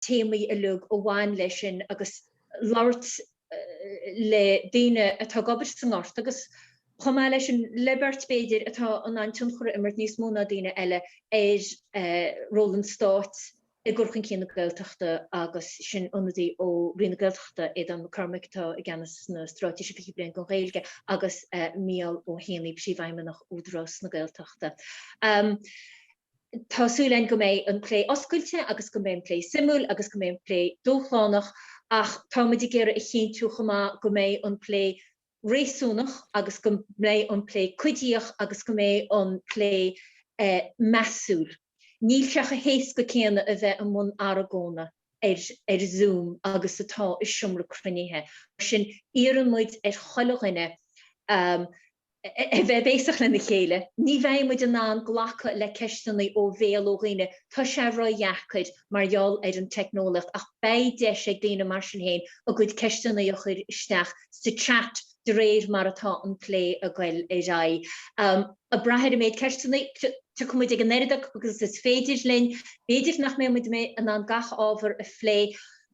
téamaí uilig a bhain leis sin agus labhairt le daoine atá ag obair sa ngort agus chomh maith leis sin, le beirt, b'fhéidir, atá in ann tionchar a imirt níos mó ná daoine eile ar ról an stáit i gcur chun cinn na Gaeltachta agus sin ionadaí ó Roinn na Gaeltachta, Aodán Mac Cormaic atá i gceannas na Straitéise 20 Bliain don Ghaeilge agus Mícheál Ó hÉanaigh, Príomhfheidhmeannach Údarás na Gaeltachta. Tá súil againn go mbeidh an plé oscailte agus go mbeidh an plé suimiúil agus go mbeidh an plé dúshlánach ach tá muid ag iarraidh a chinntiú chomh maith go mbeidh an plé réasúnach agus go mbeidh an plé cuidíoch agus go mbeidh an plé measúil. Níl sé chomh héasca céanna a bheith i mbun argóna ar Zoom agus atá i seomra cruinnithe, mar sin iarrann muid ar chuile dhuine a. a bheith béasach lena chéile. Ní bheidh muid in ann glacadh le ceisteanna ó bhéal ó dhaoine, tá sé ródheacair mar gheall ar an teicneolaíocht, ach beidh deis ag daoine mar sin féin a gcuid ceisteanna a chur isteach sa chat de réir mar atá an plé ag goil ar aghaidh. Ag braith ar an méid ceisteanna, tiocfaidh muid ag an oiread acu agus is féidir linn. B'fhéidir nach mbeidh muid, mbeidh in ann gach ábhar a phlé,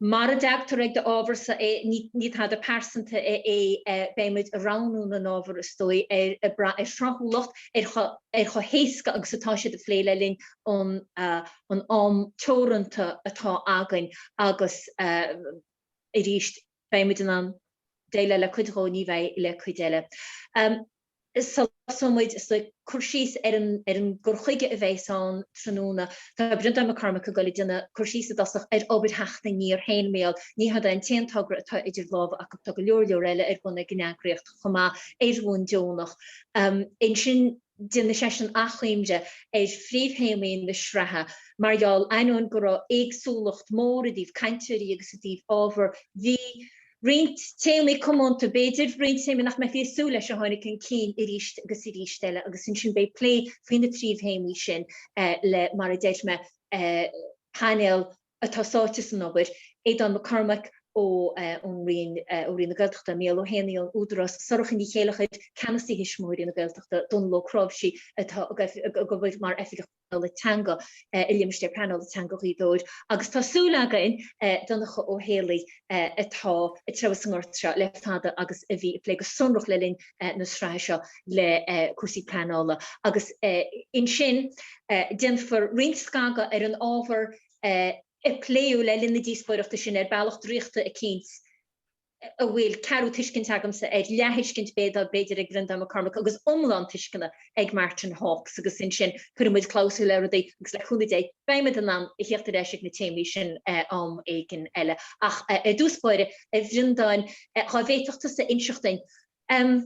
Mura dteagtar ag d'ábharsa, ní tada pearsanta é, beidh muid ag roghnú na n-ábhar is dóigh ar thráthúlacht, ar chomh héasca agus atá siad le plé le linn an am teoranta atá againn agus arís beidh muid in ann déileáil le cuid acu, ní bheidh le cuid eile. tosóidh muid sa gcur síos ar an gcur chuige a bheas ann tráthnóna. Tá Breandán Mac Cormaic ag goil ag déanamh cur síos i dtosach ar obair Theacht Aniar féin, bíodh, ní hé an t-aon togra atá idir lámha acu, tá go leor leor eile ar bun ag an eagraíocht chomh maith ar bhonn deonach. Ansin déanfaidh seisean achoimre ar phríomhthéamaí na sraithe mar gheall, ainneoin go raibh éagsúlacht mór i dtaobh cainteoirí agus i dtaobh ábhar, bhí, Roinnt téamaí comónta b'fhéidir, roinnt téamaí nach mbeifí ag súil leis a tháinig chun cinn arís agus arís eile agus ansin beidh plé faoina príomhthéamaí sin le, mar a deir mé, painéal atá sáite san obair, Aodán Mac Cormaic ó Roinn na Gaeltachta, Mícheál Ó hÉanaigh ón Údarás, Sorcha Ní Chéilleachair, Ceannasaí Thuismitheoirí na Gaeltachta, Dónall Ó Cnáimhsí atá ag obair mar Oifigeach. pleanála teanga i Limistéar Pleanála Teanga Ghaoth Dobhair agus tá súil againn Donncha Ó hÉallaithe atá ag treabhadh sa ngort seo le fada agus a bhí ag plé go sonrach le linn na sraithe seo le cúrsaí pleanála agus ansin déanfar roinnt scagadh ar an ábhar a pléadh le linn na díospóireachta sin ar bhealach draíochta eicínt. a bhfuil ceathrú tuiscint agamsa air, leath-thuiscint b'fhéidir, b'fhéidir, ag Brendan McCormick agus iomlán tuisceana ag Martin Hawkes agus ansin cuirfidh muid clabhsúr le rudaí agus le cúnamh Dé beimid in ann a theacht ar ais ag na téamaí sin am éigin eile ach ar dtús báire a Bhreandáin dá bhféadfadh tusa inseacht dúinn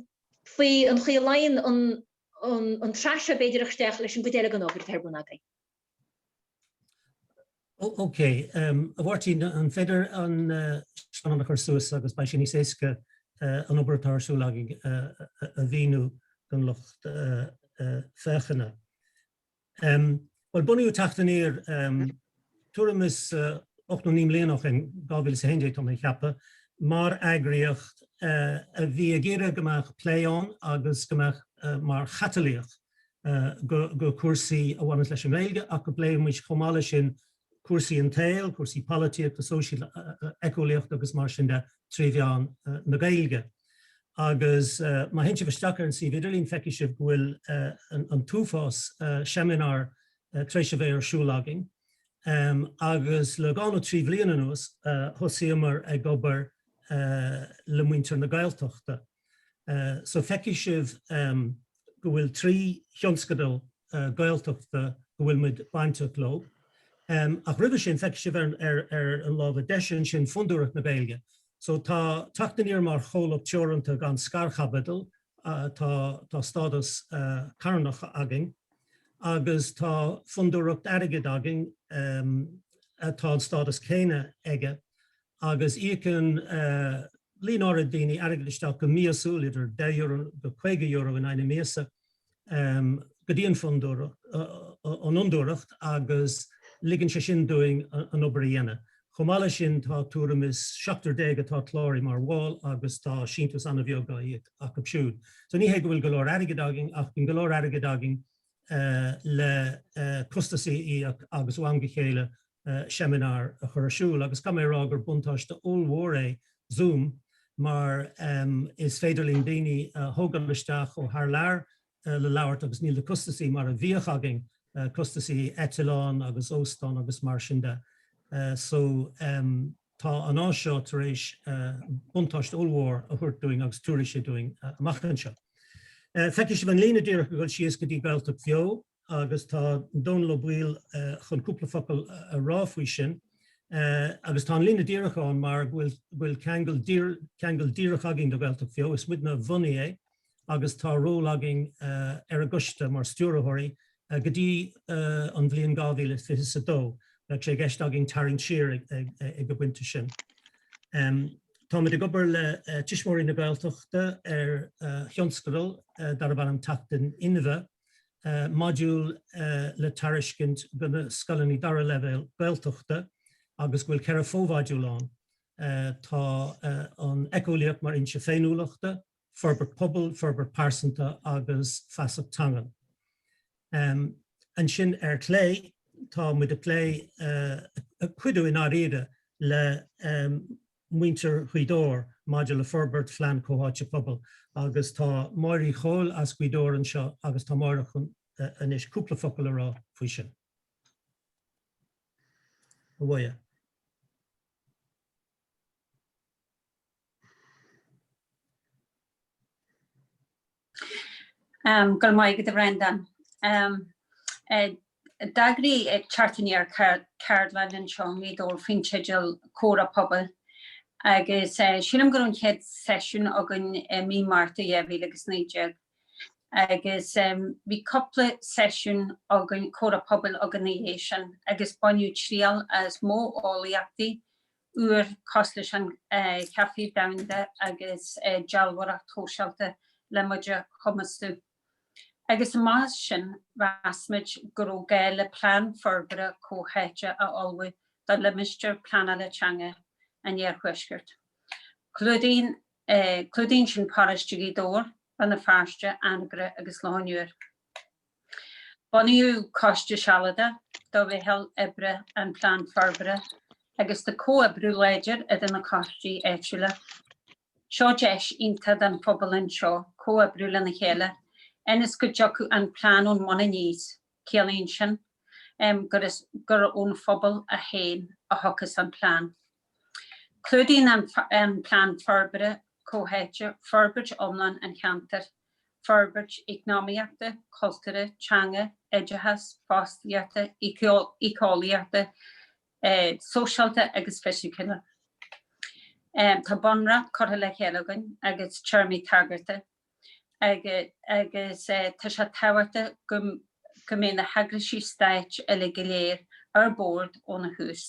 faoi an chaoi a luíonn an tsraith seo b'fhéidir isteach leis an gcuid eile den obair atá ar bun againn. OK, a Mháirtín, an féidir an scannán a chur suas agus beidh sé níos éasca an obair atá ar siúl againn a mhíniú don lucht féachana. Bhuel, bunaíodh Teacht Aniar tuairim is ocht nó naoi mbliana ó shin, 2011 tá mé a cheapadh, mar eagraíocht a bhí ag iarraidh go mbeadh plé ann agus go mbeadh mar chatalaíoch, go cúrsaí a bhaineanns leis an nGaeilge ach go bpléifeadh muid chomh maith leis sin cúrsaí an tsaoil, cúrsaí polaitíochta, sóisialta, éiceolaíochta agus mar sin de trí mheán na Gaeilge. Agus má théann sibh isteach ar an suíomh idirlín feicfidh sibh go bhfuil an t-uafás seimineár tar éis a bheith ar siúl againn. Agus le dhá nó trí bhliain anuas thosaíomar ag obair le muintir na Gaeltachta. so feicfidh sibh go bhfuil trí thionscadal Gaeltachta go bhfuil muid bainteach leo. Ach roimhe sin, feicfidh sibh ar an lámh dheis ansin Fondúireacht na Gaeilge. So tá Teacht Aniar mar chomhlacht teoranta gan scairchaipiteal, tá stádas carthanach againn, agus tá fondúireacht airgid againn atá an stádas céanna aige. agus íocann líon áirid daoine airgead isteach go míosúil, idir €10 go €50 in aghaidh na míosa, go dtí an f- an Fhondúireacht agus ligeann sé sin dúinn an obair a dhéanamh. Chomh maith leis sin, tá tuairim is seachtar déag atá cláraithe mar bhaill agus tá síntiús an-bheag á íoc acu siúd. So ní hé go bhfuil go leor airgid againn ach bíonn go leor airgid againn le costasaí a íoc agus ó am go chéile seimineár a chur ar siúl agus caithfidh mé a rá gur buntáiste ollmhór é Zoom mar is féidir linn daoine a thógáil isteach ó thar lear le labhairt agus níl na costasaí mar a bhíodh againn, costasaí eitileán agus óstán agus mar sin de. So tá an áis seo tar éis buntáiste ollmhór a thabhairt dúinn agus tabharfaidh sé dúinn amach anseo. Feicfidh sibh an líne díreach ag dul síos go dtí Gaeltacht Bheo. agus tá Dónall Ó Baoill chun cúpla focal a rá faoi sin. Agus tá an líne dhíreach ann mar go bhfuil ceangal díreach againn le Gaeltacht Bheo, is muidne a bhunaigh é agus tá ról againn ar an gcoiste mar stiúrthóirí go dtí an bhliain 2020 is a dó. Bheadh sé i gceist againn tarraingt siar ag an bpointe sin. Táimid ag obair le Tuismitheoirí na Gaeltachta ar thionscadal darb ainm Teacht in Inmhe. modúl le tairiscint do na scoileanna dara leibhéal Gaeltachta agus go bhfuil ceithre fho-mhodúl ann, tá an eiceolaíocht mar fhoinse féiniúlachta, forbairt pobail, forbairt pearsanta agus feasacht teangan. Ansin ar chlé tá muid ag plé, ag cuidiú i ndáiríre le, muintir Ghaoth Dobhair maidir le forbairt Phlean Comhtháite Pobail agus tá Máire Uí Chomhaill as Gaoth Dobhair anseo agus tá Máire chun anois cúpla focal a rá faoi sin. Mháire. Go raibh maith agat, a Bhrendan. D'eagraigh Teacht Aniar ceardlann anseo i nGaoth Dobhair faoin teideal 'Comhrá Pobail' agus sílim go raibh an chéad seisiún againn i mí Márta 2019 agus bhí cúpla seisiún againn, comhrá pobail againn ina dhiaidh sin agus baineadh triail as modheolaíochtaí ar cosúil leis an Chaifé Domhanda agus dealbhóireacht shóisialta le muid a chumasú. Agus amach as sin, mheas muid go raibh gá le plean forbartha comhtháite a ullmhú do Limistéar Pleanála Teanga an Iarthuaiscirt. Clúdaíonn sin paróistí Ghaoth Dobhair, Rann na Feirste, Anagaire agus Loch an Iúir. Bunaíodh coiste sealadach do mheitheal oibre an Phlean Forbartha agus tá comhoibriú láidir idir na coistí áitiúla. Seo deis iontach don phobal anseo comhoibriú lena chéile ionas go dtiocfadh an plean ón mbun aníos. Ciallaíonn sin gur ón phobal é fhéin a thiocfas an plean. Clúdaíonn an Plean Forbartha Comhtháite forbairt iomlán an cheantair, forbairt eacnamaíochta, cultúrtha, teanga, oideachais, fostaíochta, éiceolaíochta, sóisialta agus fisiciúla. Tá bunreacht curtha le chéile againn agus téarmaí tagartha agus tá sé tábhachtach go mbeidh na heagraisí stáit uilig go léir ar bord óna thús.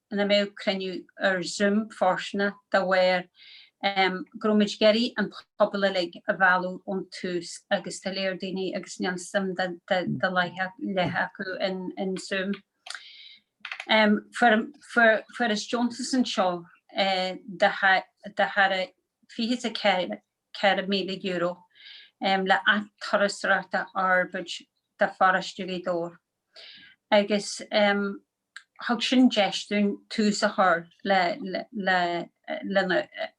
nach mbeadh cruinniú ar Zoom fóirsteanach dá bharr go raibh muid ag iarraidh an pobal uilig a mhealladh ón tús agus tá lear daoine agus níl suim dá laghad acu in Zoom. Fuarthas deontas anseo de thart ar €24,000 le aip turasóireachta a fhorbairt do pharáiste Ghaoth Dobhair agus. thug sin deis dúinn tús a chur le,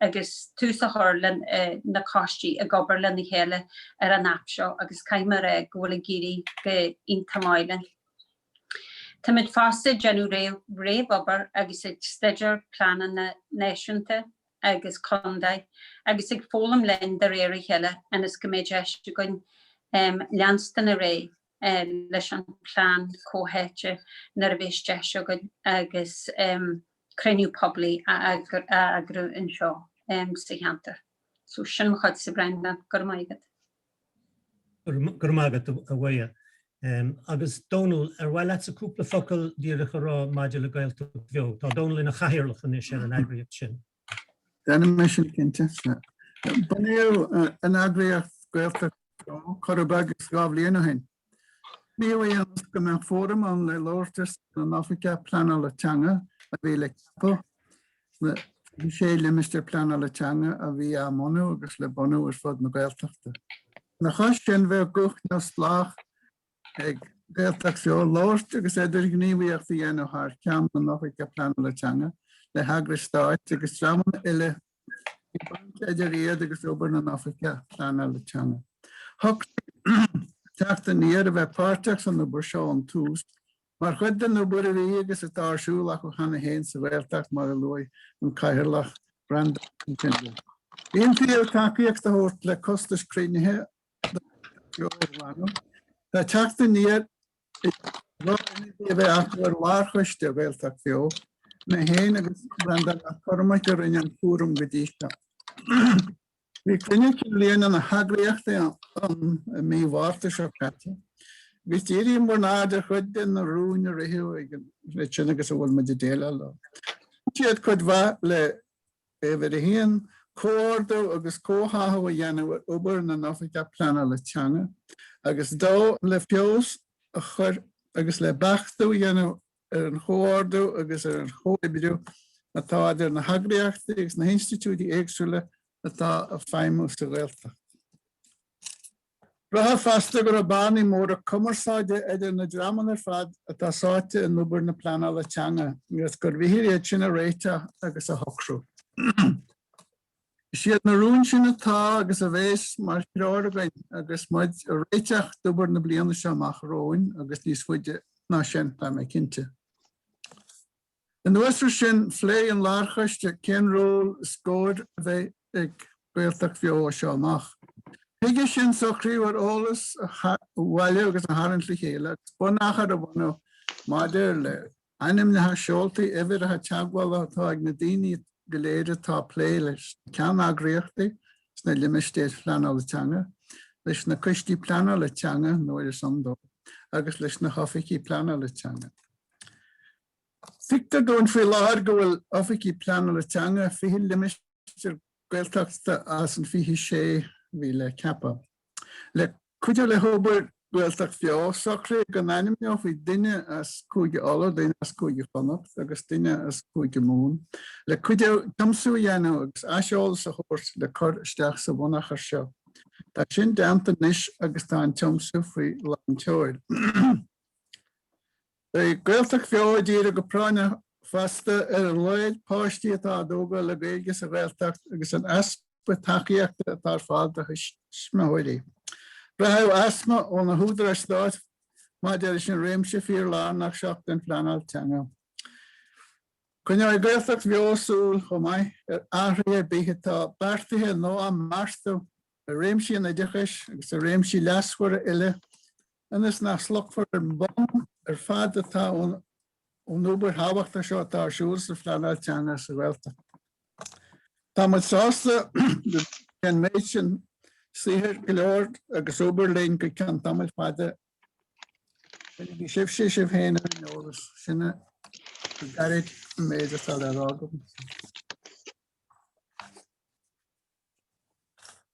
agus tús a chur na coistí ag obair lena chéile ar an aip seo agus caithfidh mé a rá go bhfuil ag éirí go hiontach maith linn. Táimid fosta ag déanamh réamhobair agus ag staidéar pleananna náisiúnta agus contae agus ag foghlaim linn de réir a chéile ionas go mbeidh deis againn leanstan ar aghaidh. leis an bplean comhtháite nuair a bheas deis againn agus cruinniú poiblí a eagrú anseo sa cheantar. So, sin mo chuidsa, a Bhreandáin. Go raibh maith agat. Go raibh maith agat, a Mhoya. Agus, Dónall, ar mhaith leatsa cúpla focal díreach a rá maidir le Gaeltacht Bheo? Tá Dónall ina chathaoirleach anois ar an eagraíocht sin. Déanfaidh mé sin, cinnte. Bunaíodh an eagraíocht Gaeltacht corradh beag is dhá bhliain ó shin. Bunaíodh í ionas go mbeadh fóram ann le labhairt ar son na nOifigeach Pleanála Teanga a bhí le ceapadh, sna 26 limistéar pleanála teanga a bhí á mbunú agus le bunú ar fud na Gaeltachta. Ina chois sin, bheadh guth neamhspleách ag Gaeltacht Bheo labhairt agus idirghníomhaíocht a dhéanamh thar ceann na nOifigeach Pleanála Teanga le heagrais stáit agus dreamanna eile a bhfuil baint idir iad agus obair na nOifigeach Pleanála Teanga. Shocraigh Teacht Aniar a bheith páirteach san obair seo ón tús, mar chuid den obair a bhí agus atá ar siúl acu cheana féin sa Ghaeltacht mar a luaigh an Cathaoirleach, Breandán Ó Doibhlin. Aontaíodh tacaíocht a thabhairt le costais cruinnithe Tá Teacht Aniar i dteideal ionadaí a bheith acu ar Lárchoiste Ghaeltacht Bheo, mé féin agus Breandán Mac Cormaic a rinne an cúram go dtí seo. Bhí cruinniú cinn bhliana na heagraíochta ann i mí Mhárta seo caite agus dírím bhur n-aird ar chuid de na rúin a ritheadh ag an chruinniú sin agus a bhfuil muid ag déileáil leo. Thug siad cuid mhaith le Uimhir a haon, comhordú agus comhtháthú a dhéanamh ar obair na nOifigeach Pleanála Teanga, agus dó, le feabhas a chur agus le beachtú a dhéanamh ar an chomhordú agus ar an chomhoibriú atá idir na heagraíochtaí agus na hinstitiúidí éagsúla atá ag feidhmiú sa Ghaeltacht. Braitheadh fosta go raibh bearnaí móra cumarsáide idir na dreamanna ar fad atá sáite in obair na pleanála teanga agus gur mhithid iad sin a réiteach agus a shocrú. Is iad na rúin sin atá agus a bheas mar threoir againn agus muid ag réiteach d'obair na bliana seo amach romhainn agus níos faide ná sin, tá mé cinnte. Anuas ar sin, phléigh an Lárchoiste cén ról is cóir a bheith ag Gaeltacht Bheo as seo amach. Chuige sin, socraíodh ar eolas a bhailiú agus a tharraingt le chéile agus bunachar a bhunú maidir le hainmneacha, seoltaí, uimhreacha teagmhála atá ag na daoine go léir atá ag plé leis na ceanneagraíochtaí sna Limistéir Phleanála Teanga, leis na Coistí Pleanála Teanga, nuair is ann dóibh, agus leis na hOifigigh Pleanála Teanga. Feictear dúinn faoi láthair go bhfuil Oifigigh Pleanála Teanga 20 limistéar Gaeltachta as an 26 a bheith ceaptha. Le cuidiú le hobair Ghaeltacht Bheo, socraíodh go n-ainmneofaí duine as Cúige Uladh, duine as Cúige Chonnacht agus duine as Cúige Mumhan le cuidiú tiomsú a dhéanamh agus aiseolas a thabhairt le cur isteach sa bhunachar seo. Tá sin déanta anois agus tá an tiomsú faoi lánseol. Beidh Gaeltacht Bheo ag díriú go práinneach fosta ar a laghad páistí atá á dtógáil le Gaeilge sa Ghaeltacht agus an easpa tacaíochta atá ar fáil do thuismitheoirí. Braitheadh easnamh ó na húdaráis stáit maidir leis an réimse fíor-lárnach seo den phleanáil teanga. Coinneoidh Gaeltacht Bheo súil chomh maith ar athruithe ar bith atá beartaithe nó á mbeartú i réimsí an oideachais agus i réimsí leasmhara eile, ionas nach slogfar an bonn ar fad ón obair thábhachtach seo atá ar siúl sa phleanáil teanga sa Ghaeltacht. Tá muid sásta go dtiocfaidh an méid sin saothar go leor agus obair linn go ceann tamaill fada. Bainigí sibhse sibh féin ar an eolas. Sin go gairid an méid atá le rá agam.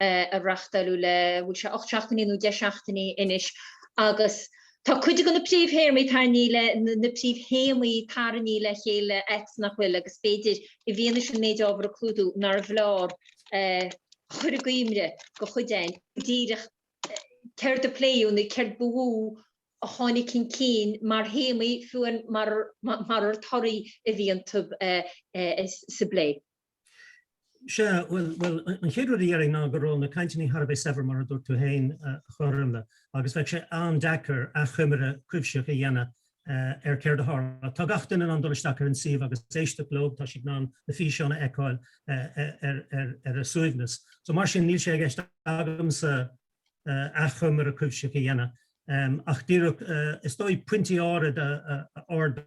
a reachtáileadh le, bhfuil sé ocht seachtainí nó deich seachtainí anois, agus tá cuid de na príomhthéamaí tarraingthe le, na príomhthéamaí tarraingthe le chéile agat, nach bhfuil? Agus b'fhéidir, i bhfianaise an méid ábhair a clúdaíodh, nárbh fhearr a chur i gcuimhne do chuid againn, díreach céard a pléadh nó céard ba mhó a tháinig chun cinn mar théamaí, fiú amháin marar toradh a bhí iontu sa bplé. Sea, bhuel, bhuel, an chéad rud a dhéarfainn ná go raibh na cainteanna thar a bheith saibhir, mar a dúirt tú féin, a Chormaic, agus bheadh sé an-deacair achoimre cuimsitheach a dhéanamh ar céard a tharla. Tá gach duine in ann dul isteach ar an suíomh agus éisteacht leo, tá siad in ann na físeáin a fheiceáil ar a suaimhneas. So mar sin, níl sé i gceist agamsa, athchoimre cuibhseach a dhéanamh ach díreach, is dóigh, pointí áiride a ardú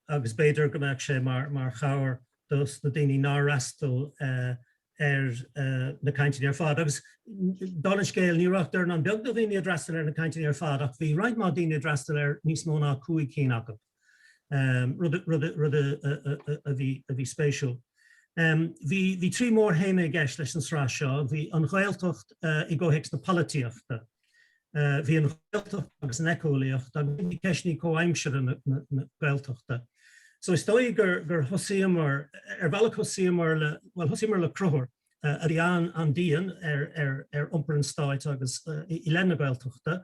agus b'fhéidir go mbeadh sé mar chabhair dos na daoine nár fhreastal ar na cainteanna ar fad. Agus dála an scéil, ní raibh ach dornán beag de dhaoine a d'fhreastal ar na cainteanna ar fad ach bhí roinnt mhaith daoine a d'fhreastal ar níos mó ná cúig cinn acu. rud a bhí spéisiúil. Bhí trí mhórthéama i gceist leis an sraith seo, bhí an Ghaeltacht i gcomhthéacs na polaitíochta, bhí an Ghaeltacht agus an eiceolaíocht agus bhí ceisteanna comhaimseartha na Gaeltachta. So is dóigh gur thosaíomar, ar bhealach thosaíomar le, bhuel thosaíomar le Conchúr, a bhí an-dian ar iompar an stáit agus i leith na Gaeltachta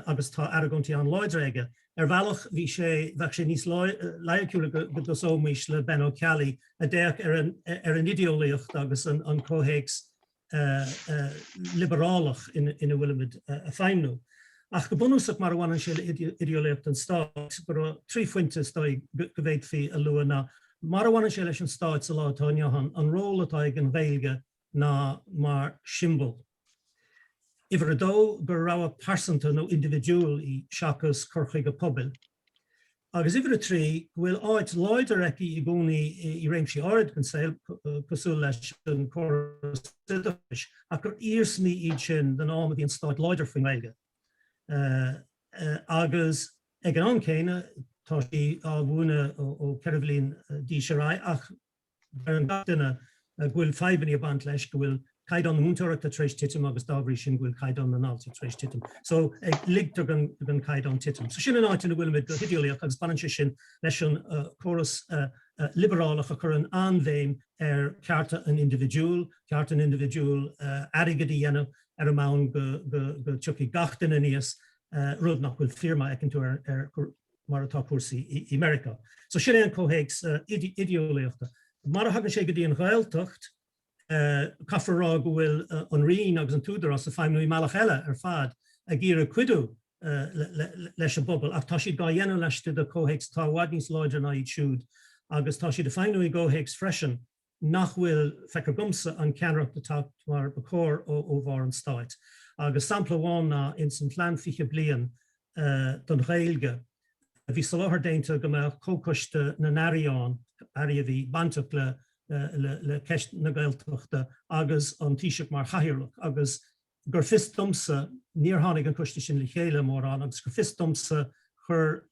agus tá argóintí an-láidre aige. Ar bhealach bhí sé, bheadh sé níos loighiciúla go dtosóimís le Ben Ó Ceallaigh a d'fhéach ar an ideolaíocht agus an comhthéacs liobarálach ina bhfuilimid ag feidhmiú. Ach go bunúsach mar a bhaineann sé le hideolaíocht an stáit, go raibh trí phointe is dóigh go bhféadfaí a lua ná, Mar a bhaineann sé leis an Stát sa lá atá inniu ann, an ról atá ag an Ghaeilge ná mar siombal. Uimhir a dó, gur rogha pearsanta nó indibhidiúil í seachas cur chuige pobail. Agus uimhir a trí, go bhfuil áit láidir aici i gcónaí i réimsí áirid den saol, cosúil leis an gcóras oideachais, ach gur iarsmaí iad sin den am a bhí an Stát láidir faoin nGaeilge. agus ag an am céanna tá sí á mhúineadh ó ceithre bhliain d'aois ar aghaidh ach déarfadh gach duine go bhfuil fadhbanna ag baint leis, go bhfuil caighdeán na múinteoireachta tar éis titim agus dá bhrí sin go bhfuil caighdeán na ndaltaí tar éis titim. So ag ligtear don chaighdeán titim. So sin an áit ina bhfuilimid go hidéolaíoch agus baineann sé sin leis an córas liobarálach a chuireann an-bhéim ar chearta an indibhidiúil, cearta an indibhidiúil airgead a dhéanamh ar an mbonn go dtiocfaidh gach duine aníos, rud nach bhfuil fíor má fheiceann tú mar atá cúrsaí i Meiriceá. So sin é an comhthéacs idéolaíochta. Mar a thagann sé go dtí an Ghaeltacht, caithfear a rá go bhfuil an Roinn agus an tÚdarás ag feidhmiú i mbealach eile ar fad, ag iarraidh cuidiú leis an bpobal ach tá siad dá dhéanamh laistigh de chomhthéacs atá i bhfad níos láidre ná iad siúd agus tá siad ag feidhmiú i gcomhthéacs freisin nach bhfuil feictear dhomsa an ceannaireacht atá mar ba chóir ó bharr an stáit, agus sampla amháin ná ins an Phlean 20 Bliain don Ghaeilge bhí soláthar déanta go mbeadh Comhchoiste na nAirí ann, Airí a bhí bainteach le ceist na Gaeltachta agus an Taoiseach mar chathaoirleach agus. gur fios domsa, níor tháinig an coiste sin le chéile mórán, agus gur fios domsa, chuir,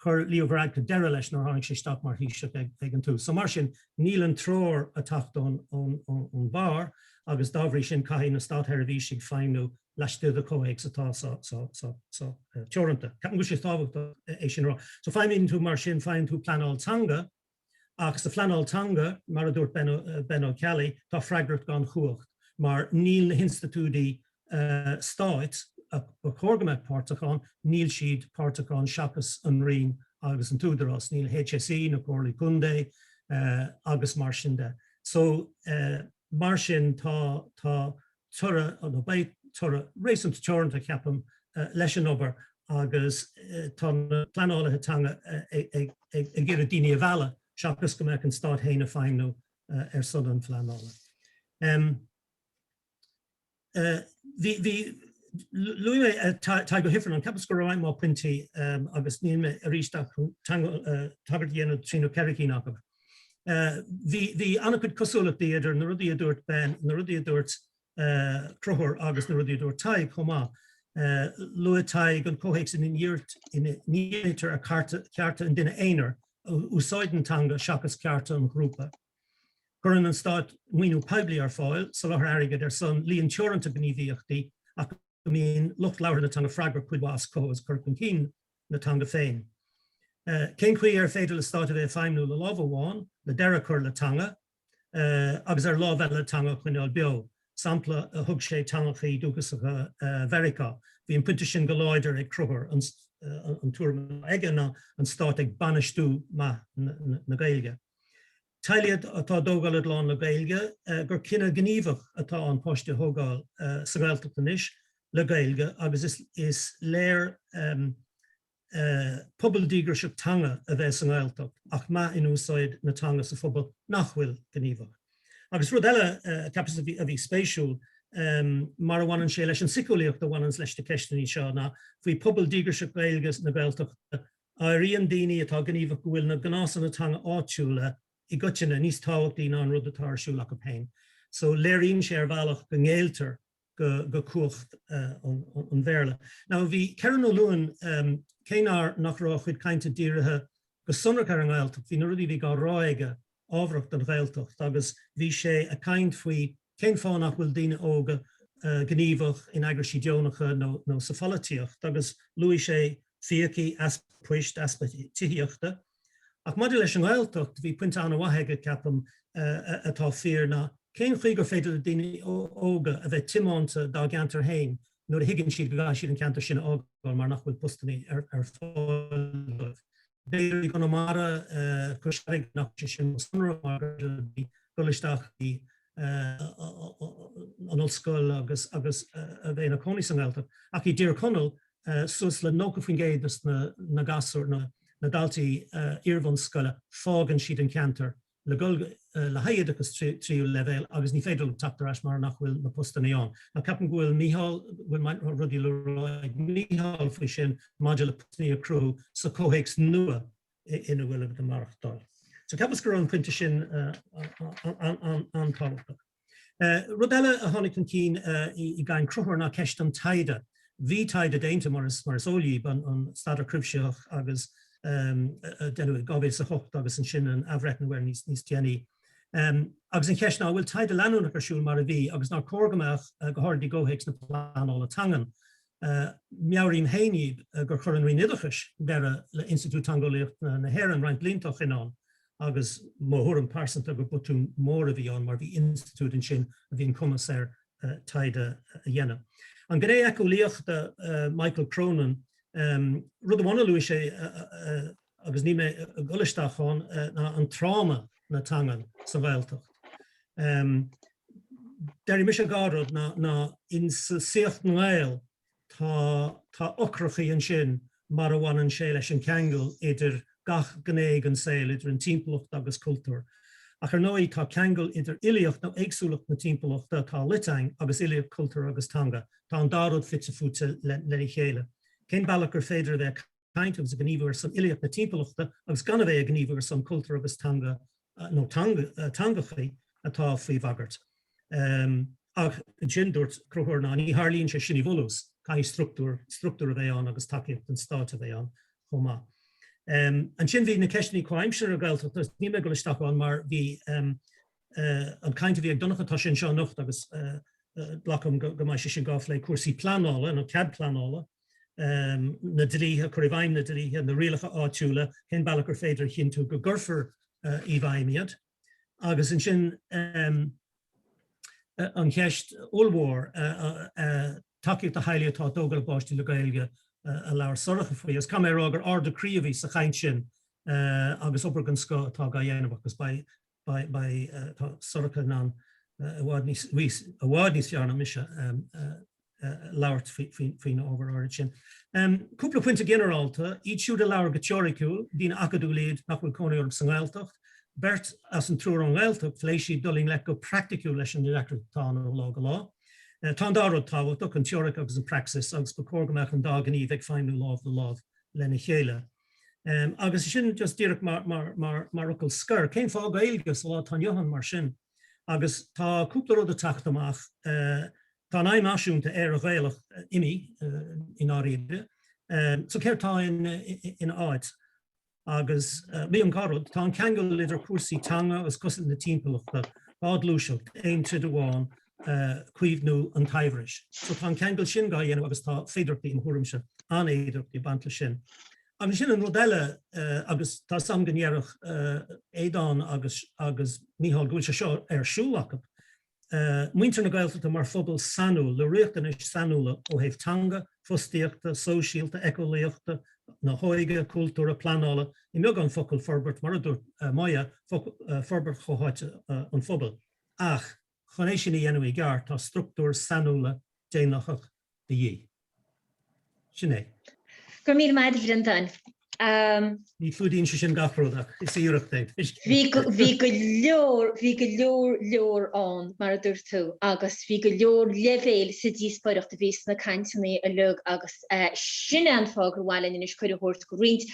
chuir Leo Varadkar deireadh leis nuair a tháinig sé isteach mar Thaoiseach ag an tús. So mar sin, níl an treoir ag teacht ón, ón, ón bharr agus dá bhrí sin caithfidh na státsheirbhísigh feidhmniú laistigh de chomhthéacs atá sa, sa, sa, sa, teoranta. Ceapaim go bhfuil sé tábhachtach é sin a rá. So feidhmíonn tú mar sin, faigheann tú pleanáil teanga, Ach sa phleanáil teanga, mar a dúirt Ben Ó Ceallaigh, tá freagracht gan chumhacht mar níl na hinstitiúidí stáit a ba chóir go mbeadh páirteach ann, níl siad páirteach ann seachas an Roinn agus an tÚdarás, níl HSE, na Comhairlí Contae agus mar sin de. So. Mar sin, tá toradh, nó beidh toradh réasúnta teoranta, ceapaim, leis an obair agus tá na pleanálaithe teanga ag iarraidh daoine a mhealladh seachas go mbeadh an stát féin ag feidhmniú ar son na pleanála. Luaigh mé Tadhg Ó hIfearnáin, ceapas go raibh an-mhaith pointí agus níl mé arís ach chun tagairt a dhéanamh do thrí nó ceithre cinn acu. Bhí an-chuid cosúlachtaí idir na rudaí a dúirt Ben, na rudaí a dúirt Conchúr agus na rudaí a dúirt Tadhg chomh maith. Luaigh Tadhg an comhthéacs ina ndírítear ar chearta an duine aonair, a úsáideann teanga seachas cearta an ghrúpa. Cuireann an stát maoiniú poiblí ar fáil, soláthar airgid ar son líon teoranta gníomhaíochtaí, ach go mbíonn lucht labhartha na teanga freagrach cuid mhaith as cothú agus cur chun cinn na teanga féin. Cén chaoi ar féidir le stát a bheith ag feidhmniú le lámh amháin, le deireadh a chur le teanga, agus ar lámh eile teanga a choinneáil beo? Sampla a thug sé teangachaí dúchasacha Mheiriceá. Bhí an pointe sin go láidir ag Conchúr, an tuairim atá aige ná an stát ag bainistiú meath na Gaeilge. Teaghlaigh atá ag tógáil a gclann le Gaeilge, gur cinneadh gníomhach atá ann páistí a thógáil sa Ghaeltacht anois le Gaeilge agus is léir pobal díograiseach teanga a bheith sa nGaeltacht ach meath in úsáid na teanga sa phobal nach bhfuil gníomhach. Agus rud eile a cheapas a bhí spéisiúil mar a bhaineann sé leis an síceolaíocht a bhaineanns leis na ceisteannaí seo ná faoi pobal díograiseach Gaeilge na Gaeltachta Airíonn daoine atá gníomhach go bhfuil na gnásanna teanga áitiúla i gcoitinne níos tábhachtaí ná an rud atá ar siúl acu féin. So léiríonn sé ar bhealach go ngéilltear do chumhacht an Bhéarla. Now bhí Kerron Ó Luain, cé nár nach raibh a chuid cainte dírithe go sonrach ar an nGaeltacht, bhí na rudaí a bhí gá rá aige ábharach don Ghaeltacht agus bhí sé a' caint faoi cén fáth nach bhfuil daoine óga gníomhach in eagraisí deonacha nó sa pholaitíocht agus luaigh sé fiacaí, easpa poist, easpa tithíochta. Ach maidir leis an nGaeltacht, bhí pointe an-mhaith aige, ceapaim, atá fíor ná cén chaoi gur féidir le daoine óga a bheith tiománta dá gceantar fhéin nuair a thuigeann siad go gcaithfidh siad an ceantar sin a fhágáil mar nach bhfuil postannaí ar fáil dóibh. b'fhéidir i gConamara, Cois Fharraige, nach bhfuil sé sin chomh sonrach mar gur féidir le daoine dul isteach go dtí an ollscoil agus a bheith ina gcónaí sa nGaeltacht. Ach i dTír Chonaill, suas le 90% de na gasúir, na daltaí iarbhunscoile, fágann siad an ceantar le dul le haghaidh oideachas tríú leibhéal agus ní féidir leo teacht ar ais mar nach bhfuil na postannaí ann. Now ceapaim go bhfuil Mícheál, bhfuil rudaí le rá ag Mícheál faoi sin maidir le postannaí a chruthú sa comhthéacs nua ina bhfuilimid ag maireachtáil. So ceapas go raibh an pointe sin an-tábhachtach. Rud eile a tháinig chun cinn i gcaint Chonchúir ná ceist an taighde. Bhí taighde déanta, mar is eol díbh, an Staidéar Cuimhsitheach agus a deineadh i 2008 agus ansin an athbhreithniú air níos déanaí. Agus an cheist ná, an bhfuil taighde leanúnach ar siúl mar a bhí agus nár cóir go mbeadh, go háirid i gcomhthéacs na pleanála teangan. Meabhraím héin díbh gur chuir an Roinn Oideachais deireadh le hInstitiúid Teangeolaíochta na hÉireann roinnt blianta ó shin ann agus mo thuairim pearsanta gur botún mór a bhí ann mar bhí institiúid ansin a bhí an cumas ar taighde a dhéanamh. An gné éiceolaíochta, Michael Cronin, rud amháin a luaigh sé agus níl mé ag dul isteach ann ná an tráma na teangan sa Ghaeltacht. Déarfaidh mise dhá rud ná insa saíocht na nGael, Tá, tá eochrachaí ansin mar a bhaineann sé leis an cheangal idir gach gné dhen saol, idir an timpeallacht agus cultúr. Ach ar ndóigh tá ceangal idir ilíocht nó éagsúlacht na timpeallachta, atá loiteáin, agus ilíocht cultúir agus teanga. Tá an dá rud fite fuaite lena chéile. Cén bealach gur féidir a bheith ag. caint agus ag gníomhú ar son ilíocht na timpeallachta agus gan a bheith ag gníomhú ar son cultúir agus teanga nó teangacha atá faoi bhagairt. Ach ansin dúirt Conchúr ná ní tharlaíonn sé sin i bhfolús, caithfidh struchtúr, struchtúr a bheith ann agus tacaíocht an stáit a bheith ann chomh maith. Ansin bhí na ceisteanna comhaimseartha Gaeltachta, níl mé ag dul isteach ann mar bhí, an caint a bhí ag Donncha, tá sé anseo anocht agus glacaim go mbeidh sé sin gá phlé, cúrsaí pleanála nó cead pleanála, na dlíthe, cur i bhfeidhm na dlíthe, na rialacha áitiúla, cén bealach ar féidir a chinntiú go gcuirfear i bhfeidhm iad. Agus ansin an cheist ollmhór, tacaíocht do theaghlaigh atá ag tógáil a bpáistí le Gaeilge, a labhair Sorcha faoi. Agus caithfidh mé a rá gur ardú croí a bhí sa chaint sin agus obair den scoth atá á dhéanamh acu. Beidh Sorcha in ann i bhfad níos fearr ná mise labhairt faoin ábhar áirid sin. Cúpla pointe ginearálta, iad siúd a labhair go teoiriciúil, daoine acadúla iad nach bhfuil cónaí orthu sa nGaeltacht, beirt as an triúr ón nGaeltacht, phléigh siad dul i ngleic go praiticiúil leis an ndeacracht atá ann ó lá go lá. Tá an dá rud tábhachtach, an teoiric agus an praxis, agus ba chóir go mbeadh an dá ghníomh ag feidhmiú lámh le lámh lena chéile. Agus sin just díreach mar fhocal scoir, cén fáth Gaeilge sa lá atá inniu ann mar sin? Agus tá cúpla rud ag teacht amach, tá an aidhm náisiúnta ar a bhealach imithe i ndáiríre, so céard atá ina áit? Agus liom, an dá rud, tá an ceangal idir cúrsaí teanga agus cosaint na timpeallachta ba ghluaiseacht aon troid amháin caomhnú an tsaibhris. So tá an ceangal sin dhá dhéanamh agus tá féidearthachtaí, i mo thuairimse, an-fhéidearthachtaí ag baint leis sin. Agus ansin an rud eile, agus tá súil agam go ndéarfadh Aodán agus Mícheál go bhfuil sé seo ar siúl acu, muintir na Gaeltachta mar phobal sainiúil, le riachtanais sainiúla ó thaobh teanga, fostaíochta, sóisialta, eiceolaíochta, na hóige, cúltúrtha, pleanála, i mbeagán focal, forbairt, mar a dúirt Moya, forbairt chomhtháite an phobail. Ach. Chun é sin a dhéanamh i gceart, tá structúir sainiúla daonlathach de dhíth. Sin é. Go raibh míle maith a'd, a Bhreandáin. Ní chlúdaíonn sé sin gach rud, ach is iarracht é. Bhí go leor, bhí go leor leor ann, mar a dúirt tú, agus bhí go leor leibhéil sa díospóireacht a bhí sna cainteanna uilig agus sin é an fáth gur mhaith linn anois cuireadh a thabhairt go roinnt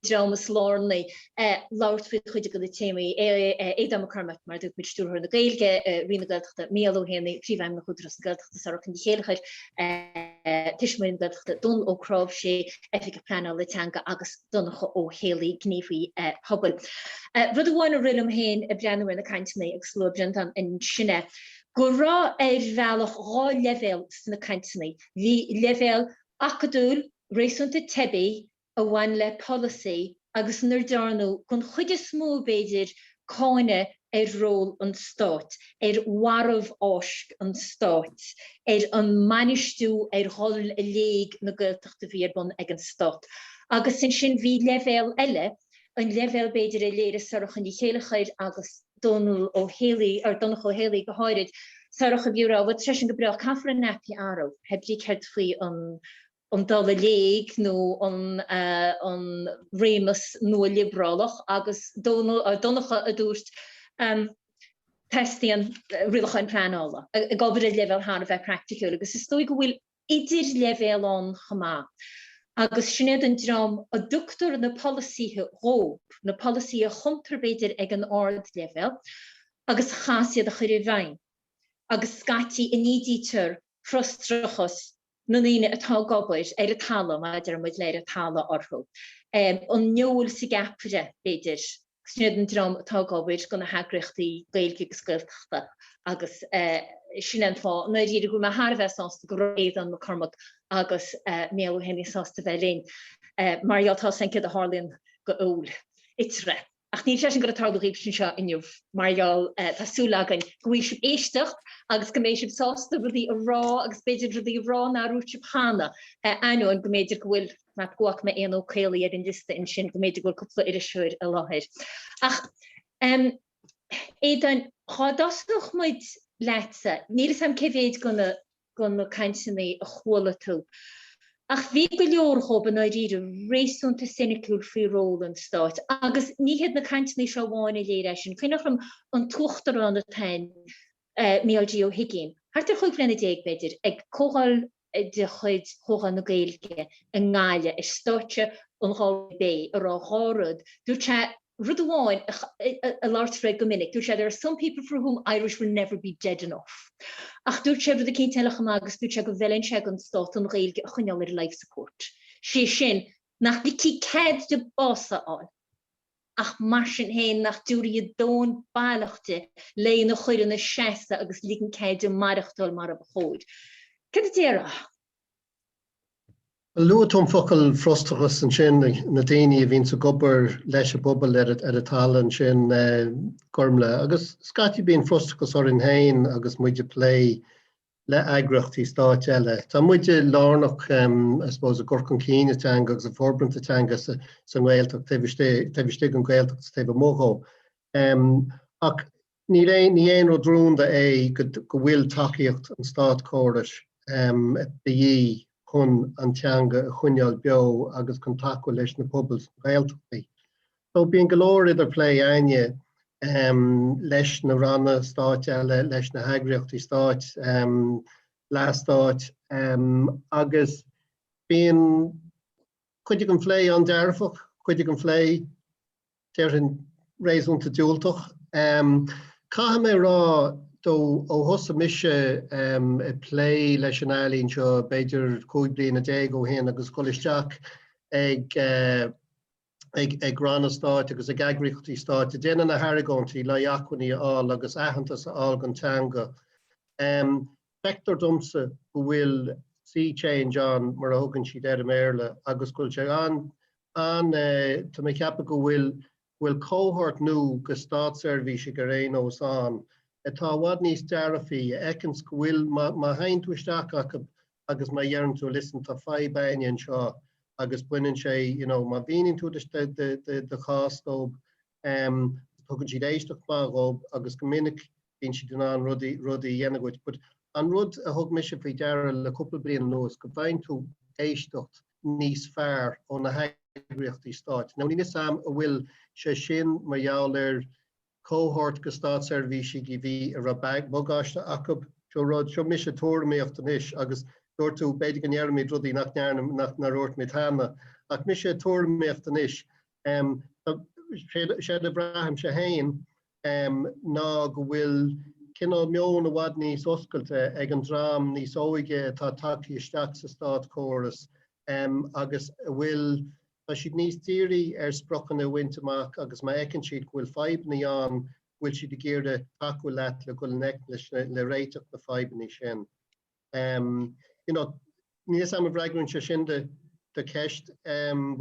dreams lárnach labhairt faoi chuid de na téamaí, Aodán Mac Cormaic, mar a dúirt muid, Stiúrthóir na Gaeilge, Roinn na Gaeltachta, Mícheál Ó hÉanaigh, Príomhfheidhmeannach Údarás na Gaeltachta, Sorcha Ní Chéilleachair, Tuismitheoirí na Gaeltachta, Dónall Ó Cnáimhsí, Oifigeach Pleanála Teanga, agus Donncha Ó hÉallaithe, gníomhaí pobail. Rud amháin a rith liom féin ag breathnú ar na cainteanna agus ag lua Bhreandán ansin ná go raibh ar bhealach dhá leibhéal sna cainteanna. Bhí leibhéal acadúil réasúnta teibí a bhain le polasaí agus nuair dearnadh, den chuid is mó, b'fhéidir, cáineadh ar ról an stáit, ar mharbhfháisc an stáit, ar an mbainistiú ar dhul i léig na Gaeltachta a bhí ar bun ag an stát. Agus ansin bhí leibhéal eile, an leibhéal, b'fhéidir, a léirigh Sorcha Ní Chéilleachair agus Dónall Ó Héalaí, nó Donncha Ó Héalaí go háirid, Sorcha, a bhí ag rá, bhuel, tar éis an go brách, caithfear an naipí a athrú, oibrigh ceart faoi an. an dul i léig nó an réimeas nua-liobrálach agus Donncha a dúirt teastaíonn rialacháin pleanála ag obair ag leibhéal thar a bheith praiticiúil agus is dóigh go bhfuil idir-leibhéal ann chomh maith agus sin iad an dream a dtugtar na polasaithe dhóib, na polasaithe a chumtar b'fhéidir ag an ard-leibhéal agus chun iad a chur i bhfeidhm agus scaití a n-ídítear frustrachas na ndaoine atá ag obair ar an talamh, mar a deir muid, le ar an talamh orthu, an fheoil sa gceapaire, b'fhéidir, sin iad an dream atá ag obair do na heagraíochtaí Gaeilge agus Gaeltachta agus sin é an fáth, i ndáiríre, go bhfuil mé thar a bheith sásta go raibh Aodhán Mac Cormaic agus Niall Ó hÉanaí sásta bheith linn mar gheall, tá a fhios againn céard a tharlaíonn go fheoil, itear é. Ach níl sé sin ag tarlú dhaoibhse anseo inniu mar gheall, tá súil againn, go bhfuil sibh ag éisteacht agus go mbeidh sibh sásta rudaí a rá agus b'fhéidir rudaí a rá nár úirt sibh cheana, ainneoin go mb'fhéidir go bhfuil, nach bhfaca mé aon Ó Caollaí ar an liosta ansin, go mb'fhéidir go bhfuil cúpla iriseoir i láthair. Ach ehm. Aodhán, dhá dtosódh muid leatsa, níl 'fhios a'm cé mhéid gona, de na cainteanna a chuala tú, ach bhí go leor dhóib i ndáiríre réasúnta soiniciúil faoi ról an stáit, agus ní hiad na cainteanna seo amháin a léirigh é sin. Cuimhneoch orm, an tUachtarán atá ann, Micheál D. Ó hUigínn, thart ar chúig bhliana déag, b'fhéidir, ag comhdháil de chuid Chomhdháil na Gaeilge i nGaillimh, ar stáitse an Galway Bay, ag rá dhá rud. Dúirt sé. Rud amháin a luaitear go minic, dúirt sé, 'There are some people for whom Irish will never be dead enough'. Ach dúirt sé rud eicínt eile chomh maith agus dúirt sé go bhfeileann sé don stát an Ghaeilge a choinneáil ar life support, sé sin, nach ligfí cead di bás a fháil ach mar sin féin nach dtiúrfaí a dóthain beatha di lena a chur ina seasamh agus ligean cead di maireachtáil mar a ba chóir. Céard a déarfá? Luaigh tú an focal 'frustrachas' ansin, na daoine a bhíonns ag obair leis an bpobal ar an talamh ansin, Gormlaith, agus scaití bíonn frustrachas orainn féin agus muid ag plé le heagraíochtaí stáit eile. Tá muide lárnach I suppose i gcur chun cinn na teanga agus i bhforbairt na teanga sa nGaeltacht, taobh istigh den Ghaeltacht is taobh amuigh dhó. Ach Ní aon rud rúnda é go bhfuil tacaíocht an státchórais de dhíth chun an teanga a choinneáil beo agus chun tacú leis na pobail sna Gaeltachtaí. So bíonn go leor idirphlé againne leis na ranna stáit eile, leis na heagraíochtaí stáit, leathstáit agus bíonn cuid den phlé an-dearfach, cuid den phlé. déarfainn, réasúnta diúltach. Caithfidh mé a rá, do ó thosaigh mise ag plé leis an ealaín seo, b'fhéidir cúig bliana déag ó shin, agus ag dul isteach ag ranna stáit agus ag eagraíochtaí stáit ag déanamh na hargóintí le haghaidh acmhainní a fháil agus aitheantas a fháil don teanga, Feictear domsa go bhfuil sea change ann, mar a thugann siad air i mBéarla, agus go bhfuil sé an, an, tá mé ag ceapadh go bhfuil, go bhfuil cohort nua de státseirbhísigh ar aon nós ann, atá i bhfad níos dearfaí, a fheiceanns go bhfuil, má, má theigheann tú isteach acu agus má dheireann tú, listen, tá fadhb againne anseo, agus baineann sé, you know, má mhíníonn tú do, do, do chás dóib, tugann siad éisteacht maith dhó agus go minic bíonn siad in ann rudaí rudaí a dhéanamh dhuit. But an rud a thug mise faoi deara le cúpla bliain anuas go bhfaigheann tú éisteacht níos fearr ó na heagraíochtaí stáit. Now níl fhios a'm a bhfuil sé sin mar gheall ar cohort de státseirbhísigh a bhí a raibh bagáiste acu seo rud seo mise tuairimíocht anois agus dúirt tú b'fhéidir go ndeirimid rudaí nach nár dhúirt muid cheana ach mise tuairimíocht anois Séard a bhraithimse féin ná go bhfuil cineál meon i bhfad níos oscailte ag an dream níos óige atá tagtha isteach sa státchóras agus a bhfuil, tá siad níos dírithe ar spriocanna a bhaint amach agus má fheiceann siad go bhfuil fadhbanna ann, go bhfuil siad ag iarraidh tacú leat le dhul i ngleic le réiteach na fadhbanna sin. You know, níl fhios a'm an bhfreagraíonn sé sin do cheist,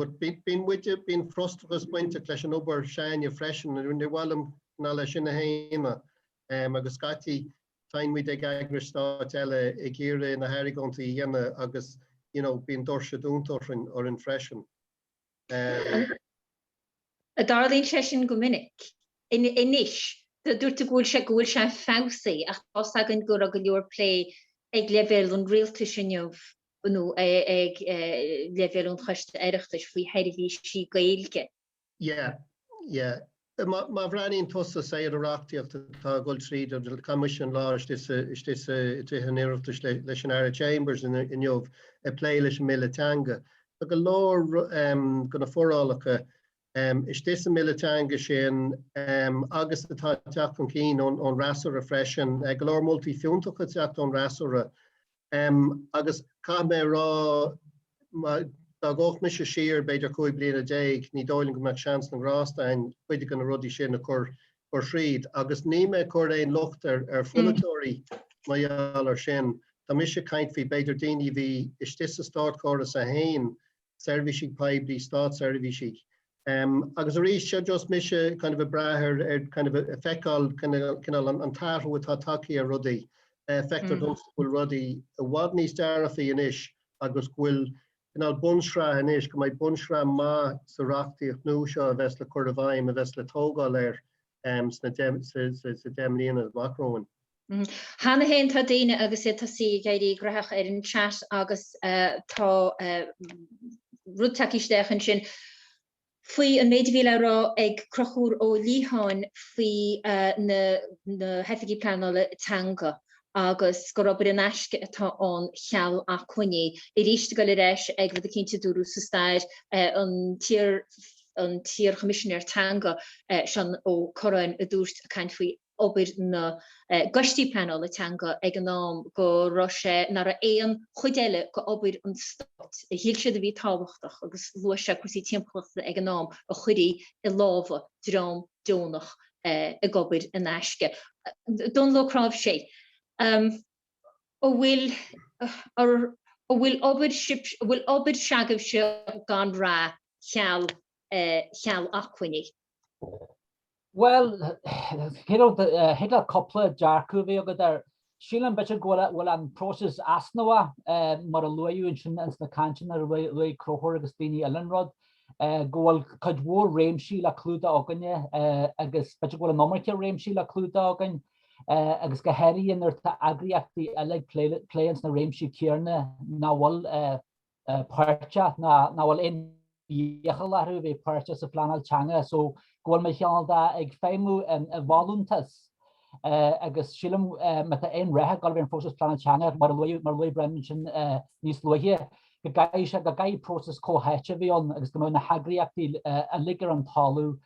but bíonn muid, bíonn frustrachas bainteach leis an obair s'againne freisin, níor mhaith liom ná leis sin a shéanadh, agus scaití téann muid ag eagrais stáit eile ag iarraidh na hargóintí a dhéanamh agus, you know, bíonn doirse dúnta orainn freisin. An dtarlaíonn sé sin go minic? Anois dúirt tú go bhfuil sé, go bhfuil sé ag feabhsú, ach tá fhios againn go raibh go leor plé ag leibhéal an rialtais inniu, nó ag leibhéal an Choiste Oireachtais, faoi sheirbhísí Gaeilge. Yeah, yeah. Má bhreathnaíonn tusa sa reachtaíocht atá ag dul tríd an gCoimisiún lá istigh i dTithe an Oireachtais leis an Aire Chambers inniu ag plé leis an mBille Teanga, tá go leor go na forálacha istigh sa mBille Teanga sin agus atá ag teacht chun cinn ón bhfreasúra freisin, go leor moltaí fiúntacha ag teacht ón bhfreasúra. Agus caithfidh mé a rá, dá ngabhfadh mise siar b'fhéidir cúig bliana déag, ní dóigh liom go mbeadh seans na ngrásta a'ainn cuid de na rudaí sin a chur thríd. Agus níl mé ag cur aon locht ar pholaiteoirí mar gheall ar sin. Tá mise ag caint faoi b'fhéidir daoine a bhí istigh sa státchóras a'ainn seirbhísigh poiblí, státseirbhísigh. Agus arís, seo just mise kind of ag brath ar kind of ag feiceáil cineál an t-athrú atá tagtha ar rudaí. Feictear domsa go bhfuil rudaí i bhfad níos dearfaí anois agus go bhfuil cineál bunshraith anois, go mbeidh bunshraith maith sa reachtaíocht nua seo a bheas le cur i bhfeidhm, a bheas le tógáil air, sa deich mbliana amach romhainn. Cheana féin tá daoine agus tá sé ag éirí graitheach ar an chat agus tá rud tagtha isteach ansin faoi an méid a bhí le rá ag Crochúr Ó Liatháin faoi na hoifigí pleanála teanga agus gur obair in aisce atá ann cheal acmhainní. Arís ag dul ar ais ag rud eicínt a dúradh sa stair, an tír an t-iar-Choimisinéir Teanga, Seán Ó Cuirreáin, a dúirt ag caint faoi obair na gcoistí pleanála teanga ag an am go raibh sé nach raibh aon chuid eile d'obair an stáit a shíl siad a bhí tábhachtach agus luaigh sé cúrsaí timpeallachta ag an am a chuirfí i lámha dream deonach ag obair in aisce dhó. An léir, an bhfuil sé a bhfuil a bhfuil obair a bhfuil obair s'agaibhse gan rath cheal cheal acmhainní? Bhuel, cén thig leat cúpla dearcadh a bheith agat air. Sílim, b'fhéidir, go bhfuil an próiseas easnamhach, mar a luaíodh ansin ins na cainteanna a luaigh Crochúr agus daoine eile an rud go bhfuil cuid mhór réimsí le clúdach againne agus b'fhéidir go bhfuil an iomarca réimsí le clúdach againn. agus go háirithe nuair atá eagraíochtaí eile ag plé ins na réimsí céarna nach bhfuil páirteach ná nach bhfuil aon iachall orthu a bheith páirteach sa phleanáil teanga so go bhfuil muid cineál ag feidhmiú i bhfolúntas agus sílim má tá aon rath ag gabháil a bheith ar an phróiseas pleanáil teanga mar a luaigh mar a luaigh Brendan sin níos luaithe go gcaithfidh sé go gcaithfidh próiseas comhtháite a bheith ann agus go mbeadh na heagraíochtaí uilig ar an talamh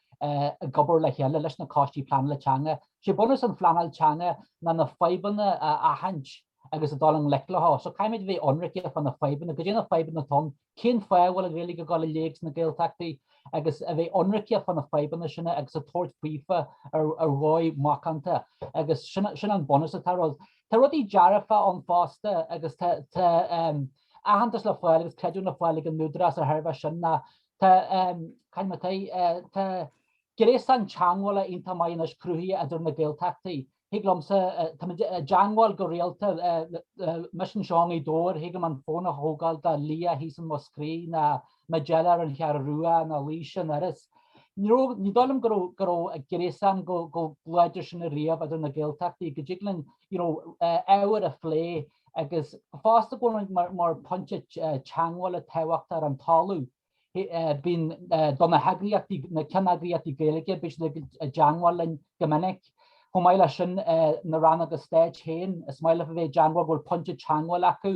ag obair le chéile leis na coistí pleanála teanga Sé bunús an phleanáil teanga ná na fadhbanna a aithint agus a dul i ngleic leo. So caithfimid a bheith ionraic fá na fadhbanna. Goidé na fadhbanna atá ann? Cén fáth a bhfuil an Ghaeilge ag dul i léig sna Gaeltachtaí? Agus a bheith ionraic fá na fadhbanna sin agus a thabhairt faofa ar dhóigh macánta. Agus sin an bunús atá rud. Tá rudaí dearfa ann fosta agus tá aitheantas le fáil agus creidiúint le fáil ag an Údarás as thairbhe sin ná tá, cá bith é, tá, gréasán teangmhála iontach maith anois cruthaithe idir na Gaeltachtaí, thig liomsa, táimid i dteangmháil go rialta, mise anseo i nGaoth Dobhair, thig liom an fón a thógáil do Lia thíos i Múscraí, nó Majella ar an Cheathrú Rua, nó Laoise in Iorras. Ní raibh, ní dóigh liom go raibh, go raibh an gréasán chomh láidir sin riamh idir na Gaeltachtaí, go dtig linn, you know, ábhair a phlé agus fosta go bhfuil muid mar pointe teangmhála tábhachtach ar an talamh. bíonn do na heagraíochtaí, na ceanneagraíochtaí Gaeilge, bíonn siad i dteangmháil linn go minic. Chomh maith leis sin, na Ranna agus an Stát féin, is maith leo a bheith i dteangmháil, go bhfuil pointe teangmháil acu.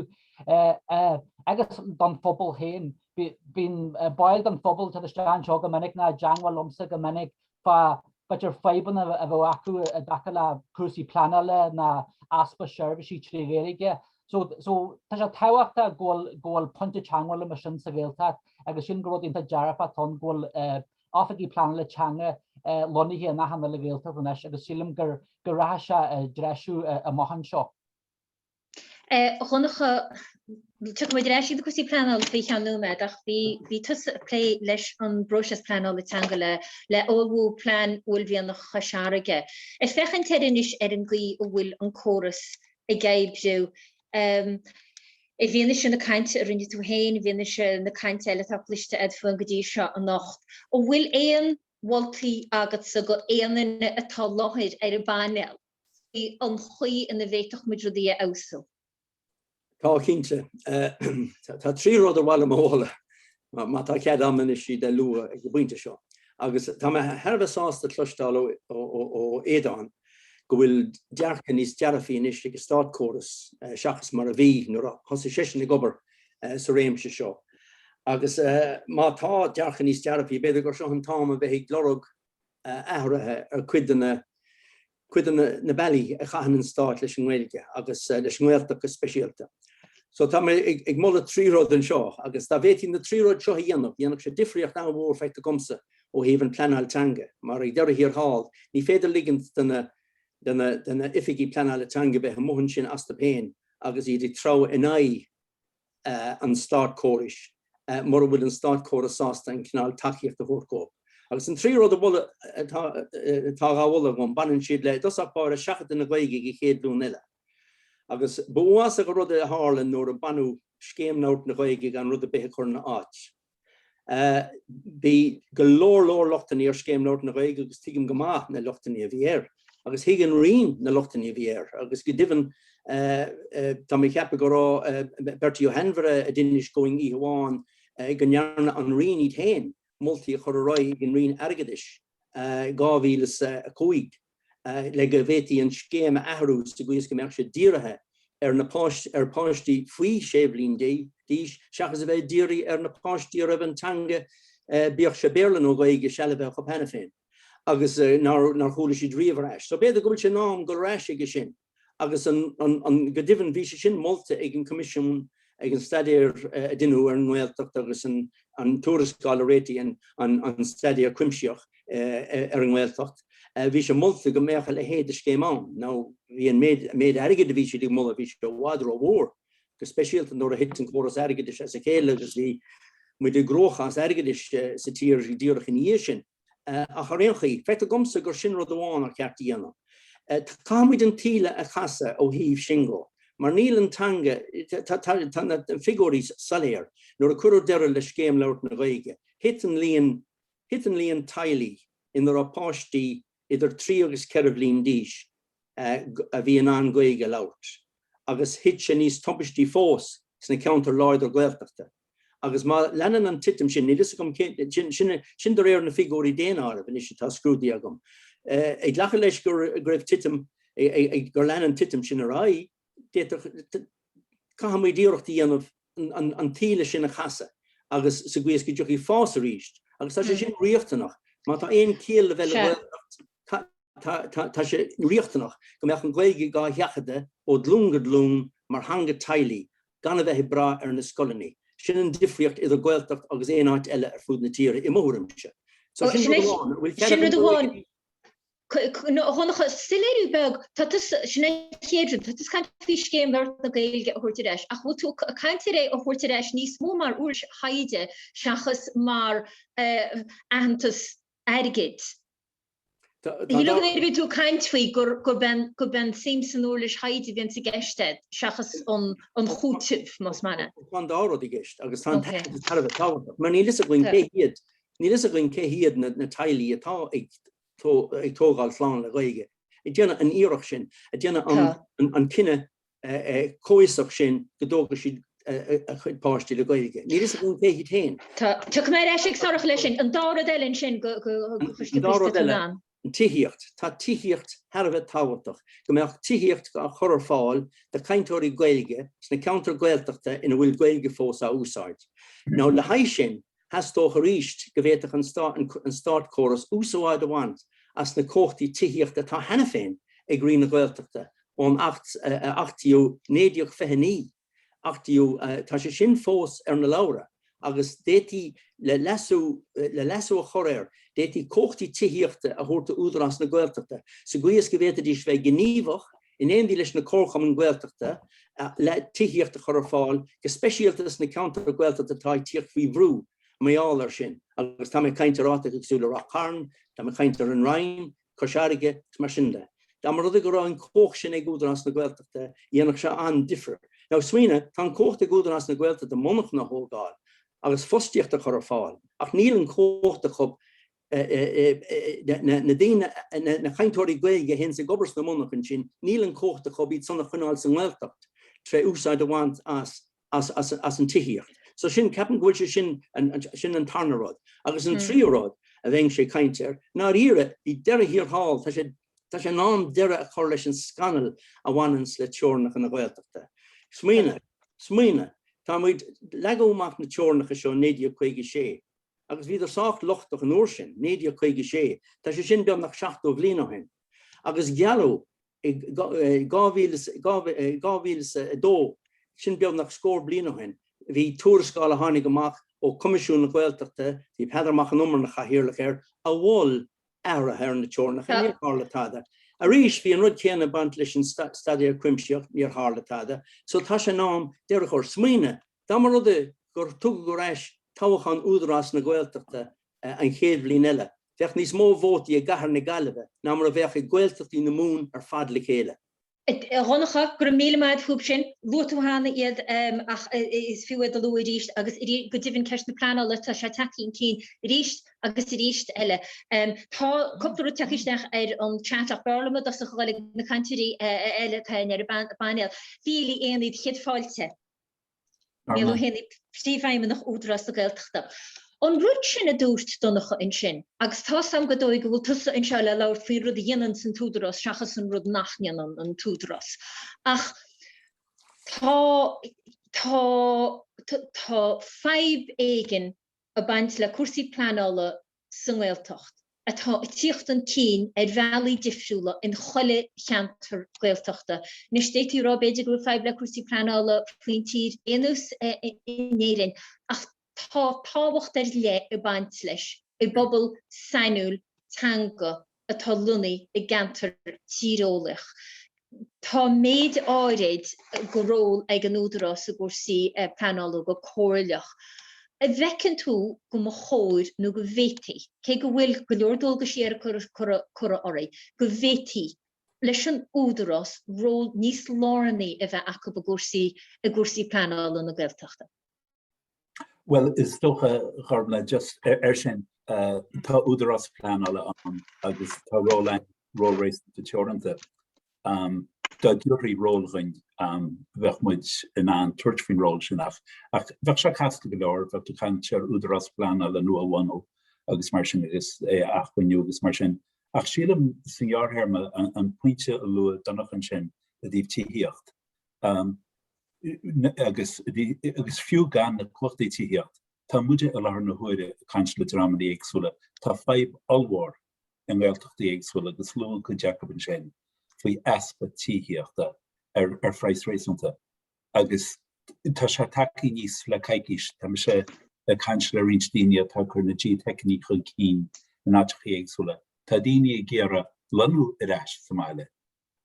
Agus don phobal féin, bíonn baill den phobal, ag teacht isteach anseo go minic, nó i dteangmháil liomsa go minic, b'fhéidir fadhbanna a bheadh acu i dtaca le cúrsaí pleanála nó easpa seirbhísí trí Ghaeilge. So so tá sé tábhachtach go bhfuil go bhfuil pointe teangmhála mar sin sa Ghaeltacht agus sílim gur rud iontach dearfach atá ann go bhfuil Oifigigh Pleanála Teanga lonnaithe in achan uile Ghaeltacht anois agus sílim go go rachadh sé i dtreise amach anseo. Dhonncha, tiocfaidh muid ar ais ag na cúrsaí pleanála faoi cheann nóiméad ach bhí bhí tusa ag plé leis an bpróiseas pleanála teanga le le ullmhú plean uaillmhianach Chois Fharraige. Ag féachaint ar anois ar an gcaoi a bhfuil an córas ag oibriú, i bhfianaise na cainte a rinne tú féin, i bhfianaise na cainte eile atá cloiste agat uainn go dtí seo anocht, an bhfuil aon mholtaí agatsa go aon duine atá i láthair ar an bpainéal? faoi an chaoi ina bhféadfadh muid rudaí a fheabhsú? Tá, cinnte. Tá trí rud ar mhaith liom a mholadh, má tá cead agam anois iad a lua ag an bpointe seo. Agus tá mé thar a bheith sásta cloisteáil ó Aodhán go bhfuil dearcadh níos dearfaí anois ag an státchóras seachas mar a bhí nuair a thosaigh seisean ag obair sa réimse seo. Agus má tá dearcadh níos dearfaí, b'fhéidir gur seo an t-am a bheith ag lorg athruithe ar chuid de na chuid de na na bealaí a chaitheann an Stát leis an nGaeilge agus leis an nGaeltacht go speisialta. So tá mé ag ag moladh trí rud anseo agus dá bhféadfaí na trí rud seo a dhéanamh, dhéanfadh sé difríocht an-mhór feictear domsa ó thaobh an phleanáil teanga mar ag deireadh thiar thall ní féidir ligint do na do na do na oifigigh pleanála teanga bheith amuigh ansin astu féin agus iad ag treabhadh in aghaidh an státchórais mura bhfuil an státchóras sásta an cineál tacaíochta a thabhairt dhóibh. Agus an tríú rud atá ag gabháil agam, baineann siad le, i dtosach báire, seachadadh na Gaeilge ag an chéad ghlúin eile. Agus ba uafásach an rud é a tharla nuair a baineadh Scéim Labhairt na Gaeilge gan rud ar bith a chur ina áit. Bhí go leor leor lochtannaí ar Scéim Labhairt na Gaeilge agus tuigim go maith na lochtannaí a bhí air agus thuig an Roinn na lochtannaí a bhí air agus go deimhin tá mé ag ceapadh go raibh Bertie Ó hAinmhire a d'inis dhúinn oíche amháin go ndearna an Roinn iad féin moltaí a chur ar aghaidh ag an Roinn Airgeadais i 2005. le go bhféadfaí an scéim a athrú sa gcaoi is go mbeadh sé dírithe ar pháistí faoi sé bhliain d'aois seachas a bheith dírithe ar na páistí a raibh an teanga, bíodh sé Béarla nó Gaeilge, sealbhaithe acu cheana féin agus ní raibh aon dul siar ar ais. So b'fhéidir go bhfuil sé in am dul ar ais aige sin. agus go deimhin bhí sé sin molta ag an gCoimisiún ag an staidéar a deineadh ar an nGaeltacht agus an tuarascáil a réitigh an Staidéar Cuimsitheach ar an nGaeltacht, bhí sé molta go mbeadh a leithéid de scéim ann. Now bhí an méid airgid a bhí siad ag moladh, bhí sé i bhfad ró-mhór, go speisialta nuair a thit an córas airgeadais as a chéile agus bhí muid i gcruachás airgeadais sa tír díreach ina dhiaidh sin. Ach ar aon chaoi, feictear domsa gur sin rud amháin ar cheart a dhéanamh. Caithfimid an taoille a chasadh ó thaobh Shingo, mar níl an teanga, tá na figiúirí soiléir, nuair a cuireadh deireadh le Scéim Labhairt na Gaeilge, thit an líon, thit an líon teaghlaigh ina raibh páistí idir trí agus ceithre bhliain d'aois a bhí in ann Gaeilge a labhairt, agus thit sé níos tubaistí fós sna ceantair láidir Gaeltachta. agus má leanann an titim sin, níl fhios agam cén, sin de réir na figiúirí daonáirimh anois atá scrúdaithe agam, ag glacadh leis go raibh titim, gur lean an titim sin ar aghaidh, d'fhéadfadh, caithfimid iarracht a dhéanamh an taoille sin a chasadh agus sa gcaoi is go dtiocfaidh fás arís agus tá sé sin riachtanach, má tá aon chiall le bheith le Gaeltacht, tá sé riachtanach go mbeadh an Ghaeilge dhá seachadadh ó ghlúin go glúin mar theanga teaghlaigh gan a bheith ag brath ar na scoileanna. Sin an difríocht idir Gaeltacht agus aon áit eile ar fud na tíre, i mo thuairimse. So sin rud amháin. An bhfuil cead agam dul ag. Dhonncha, soiléiriú beag, tá tú, sin an chéad rud, tá tú ag caint faoi Scéim Labhairt na Gaeilge a thabhairt ar ais, ach bhfuil tú ag caint ar é a thabhairt ar ais níos mó mar uirlis thaighde seachas mar aitheantas airgid? De réir mar a bhí tú ag caint faoi, gurb é an tsuim san uirlis thaighde a bhíonns i gceist seachas an cúiteamh, más maith leat. Tá an dá rud i gceist, agus tá an taighde thar a bheith tábhachtach, mar níl a fhios againn cé hiad, níl a fhios againn cé hiad na teaghlaigh atá ag tógáil clann le Gaeilge, ag déanamh an iarracht sin, ag déanamh an cinneadh comhfhiosach sin go dtógfaidh siad a gcuid páistí le Gaeilge. Níl a fhios agam cé hiad féin. Tá. Tiocfaidh mé ar ais ag Sorcha leis sin. An dá rud eile ansin go bhfios duit, an dá rud eile, an tithíocht, tá tithíocht thar a bheith tábhachtach, go mbeadh tithíocht á chur ar fáil do chainteoirí Gaeilge sna ceantair Ghaeltachta ina bhfuil Gaeilge fós á úsáid. Now le haghaidh sin, theastódh arís go bhféadfadh an státchóras úsáid a bhaint as na comhachtaí tithíochta atá cheana féin ag Roinn na Gaeltachta ón Acht a achtaíodh 1929. Achtaíodh, tá sé sin fós ar na leabhra, agus d'fhéadfaí, le leasú, le leasú a chur air, d'fhéadfaí comhachtaí tithíochta a thabhairt d'Údarás na Gaeltachta sa gcaoi is go bhféadfaidís bheith gníomhach, in éindí leis na comharchumainn Ghaeltachta, le tithíocht a chur ar fáil, go speisialta sna ceantair Ghaeltachta atá ag tíocht faoi bhrú. Mar gheall air sin, agus tá mé ag caint ar áiteacha cosúil le Ráth Chairn, tá mé ag caint ar An Rinn, Cois Fharraige, agus mar sin de. Dá mba rud é go raibh an cumhacht sin ag Údarás na Gaeltachta, dhéanfadh sé an-difear. Now, smaoinigh, tá an cumhacht ag Údarás na Gaeltachta monarchana a thógáil agus fostaíocht a chur ar fáil, ach níl an cumhacht acu, na daoine, na cainteoirí Gaeilge a bhíonns ag obair sna monarchain sin, níl an cumhacht acu iadsan a choinneáil sa nGaeltacht tré úsáid a bhaint as an tithíocht. So sin, ceapaim go bhfuil sé sin, sin an tarna rud. Agus an tríú rud a bheinnse ag caint air, i ndáiríre, faoi dheireadh thiar thall, tá sé, tá sé in am deireadh a chur leis an scannal a bhaineanns le teorannacha na Gaeltachta. Smaoinigh, smaoinigh, tá muid, leagadh amach na teorannacha seo i 1956, Agus bhíodar sách lochtach an uair sin, 1956, tá sé sin beagnach seachtó bliain ó shin, agus gealladh i 2002, sin beagnach scór bliain ó shin, bhí tuarascáil a tháinig amach ó Choimisiún na Gaeltachta, bhí Peadar Mac an Iomaire ina chathaoirleach air, a mhol athruithe ar na teorainneacha, níor tharla tada. Arís, bhí an rud céanna ag baint leis an Staidéar Cuimsitheach, níor tharla tada. So tá sé in am deireadh a chur. Smaoinigh. Dá mba rud é gur tugadh ar ais toghchán Údarás na Gaeltachta an chéad bhliain eile, bheadh níos mó vótaí i gcathair na Gaillimhe ná mar a bheadh i Gaeltachtaí na Mumhan ar fad le chéile. A Dhonncha, go raibh míle maith agat fúthu sin. Luaigh tú cheana iad ach is fiú iad a lua arís agus arís. Go deimhin, ceist na pleanála, tá sé ag teacht chun cinn arís agus arís eile. Tá cúpla rud ag teacht isteach ar an chat ach b'fhearr liom i dtosach a dhul ag na cainteoirí eile atá ar an bpainéal. A Mhíchíl Uí Éanaigh, do chéad fáilte. Mícheál Ó hÉanaigh, Príomhfheidhmeannach Údarás na Gaeltachta. An rud sin a dúirt Donncha ansin, agus tá a fhios agam go dóigh go bhfuil tusa anseo le labhairt faoin rud a dhéananns an tÚdarás seachas an rud nach ndéanann an tÚdarás. Ach tá, tá, tá fadhb éigin ag baint le cúrsaí pleanála sa nGaeltacht atá ag tíocht chun cinn ar bhealaí difriúla in chuile cheantar Gaeltachta. Anois, d'fhéadfaí a rá, b'fhéidir, go bhfuil fadhb le cúrsaí pleanála faoin tír ar aon nós in Éirinn, ach tá tábhacht ar leith ag baint leis i bpobal sainiúil teanga atá lonnaithe i gceantar tíreolaíoch, tá méid áirid dhe ról ag an Údarás i gcúrsaí pleanála go comhairleach. An bhfeiceann tú go mba chóir nó go bhféadfaí, cé go bhfuil go leor dualgaisí curtha oraibh, go bhféadfaí leis an Údarás ról níos lárnaí a bheith acu i gcúrsaí pleanála na Gaeltachta? Bhuel, is dócha Gormfhlaith, just air sin, tá údarás pleanála ann agus tá ról ann, ról réasúnta teoranta. Dá dtiúrfaí ról dhúinn, bheadh muid in ann tabhairt faoin ról sin ach bheadh sé casta go leor, bheadh tú ag caint ar údarás pleanála nua a bhunú agus mar sin agus acmhainní agus mar sin. Ach sílim, sa ngearrthéarma, an pointe a luaigh Donnchadh ansin i dtaobh tithíocht, agus agus fiú gan na cumhachtaí tithíocht, tá muide i láthair na huaire ag caint le dreamanna éagsúla. Tá fadhb ollmhór i nGaeltachtaí éagsúla agus luaigh tú go díreach ansin faoi easpa tithíochta ar ar phraghas réasúnta agus tá sé tagthaí aníos le coicís. Tá mise ag caint le roinnt daoine atá ag cur na gteiceannaí chun cinn in áiteachaí éagsúla. Tá daoine ag iarraidh lonnú ar ais sa mbaile.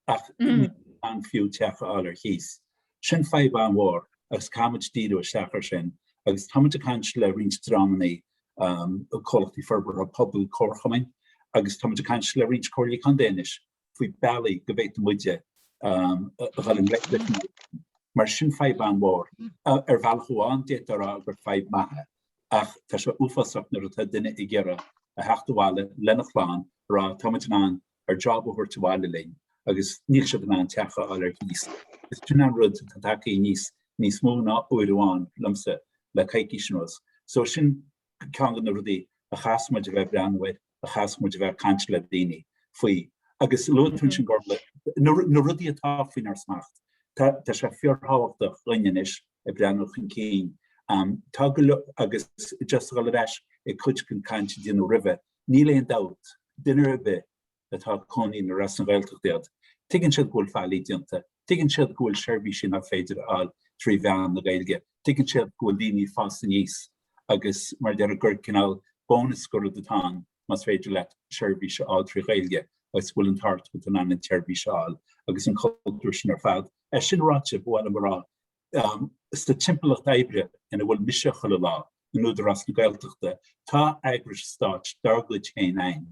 ach ann fiú teach a fháil ar chíos. Sin fadhb an-mhór agus caithfimid díriú isteach air sin agus táimid ag caint le roinnt dreamanna, comhlachtaí forbartha pobail, comharchumainn agus táimid ag caint le roinnt comhairlí contae anois faoi bealaí go bhféadfadh muide a dhul, mar sin fadhb an-mhór. Ar bhealach amháin, d'fhéadfá a rá gur fadhb maith é ach tá sé uafásach nuair atá duine ag iarraidh a theacht abhaile lena chlann a rá, táimid in ann ar job a thabhairt abhaile linn agus níl siad in ann teach a fháil ar chíos. Is sin an rud atá tagtha aníos níos mó ná uair amháin liomsa le coicís anuas. So sin ceann de na rudaí a chaitheas muid a bheith ag breathnú air, a chaitheas muid a bheith ag caint le daoine faoi. Agus luaigh tú ansin Gormfhlaith, na rudaí atá faoinár smacht, tá sé fíorthábhachtach dhúinn anois a breathnú chun cinn. Tá go leor, agus just dul ar ais ag cuid dhen chaint a déanadh roimhe, Níl aon dabht, duine ar bith atá ag cónaí nó arb as an nGaeltacht iad, tuigeann siad go bhfuil faillí déanta, tuigeann siad go bhfuil seirbhísí nach féidir a fháil trí mheán na Gaeilge, tuigeann siad go bhfuil daoine ag fás aníos agus mar a déarfá gur cineál bónas gur rud atá ann más féidir leat seirbhís a fháil trí Ghaeilge agus go bhfuil an t-ádh ort gur in ann an tseirbhís a fháil agus an cultúr sin ar fad. É sin ráite, ba mhaith liom a rá, Sa timpeallacht oibre ina bhfuil mise chuile lá, in Údarás na Gaeltachta, tá eagrais stáit dár gcuid féin ann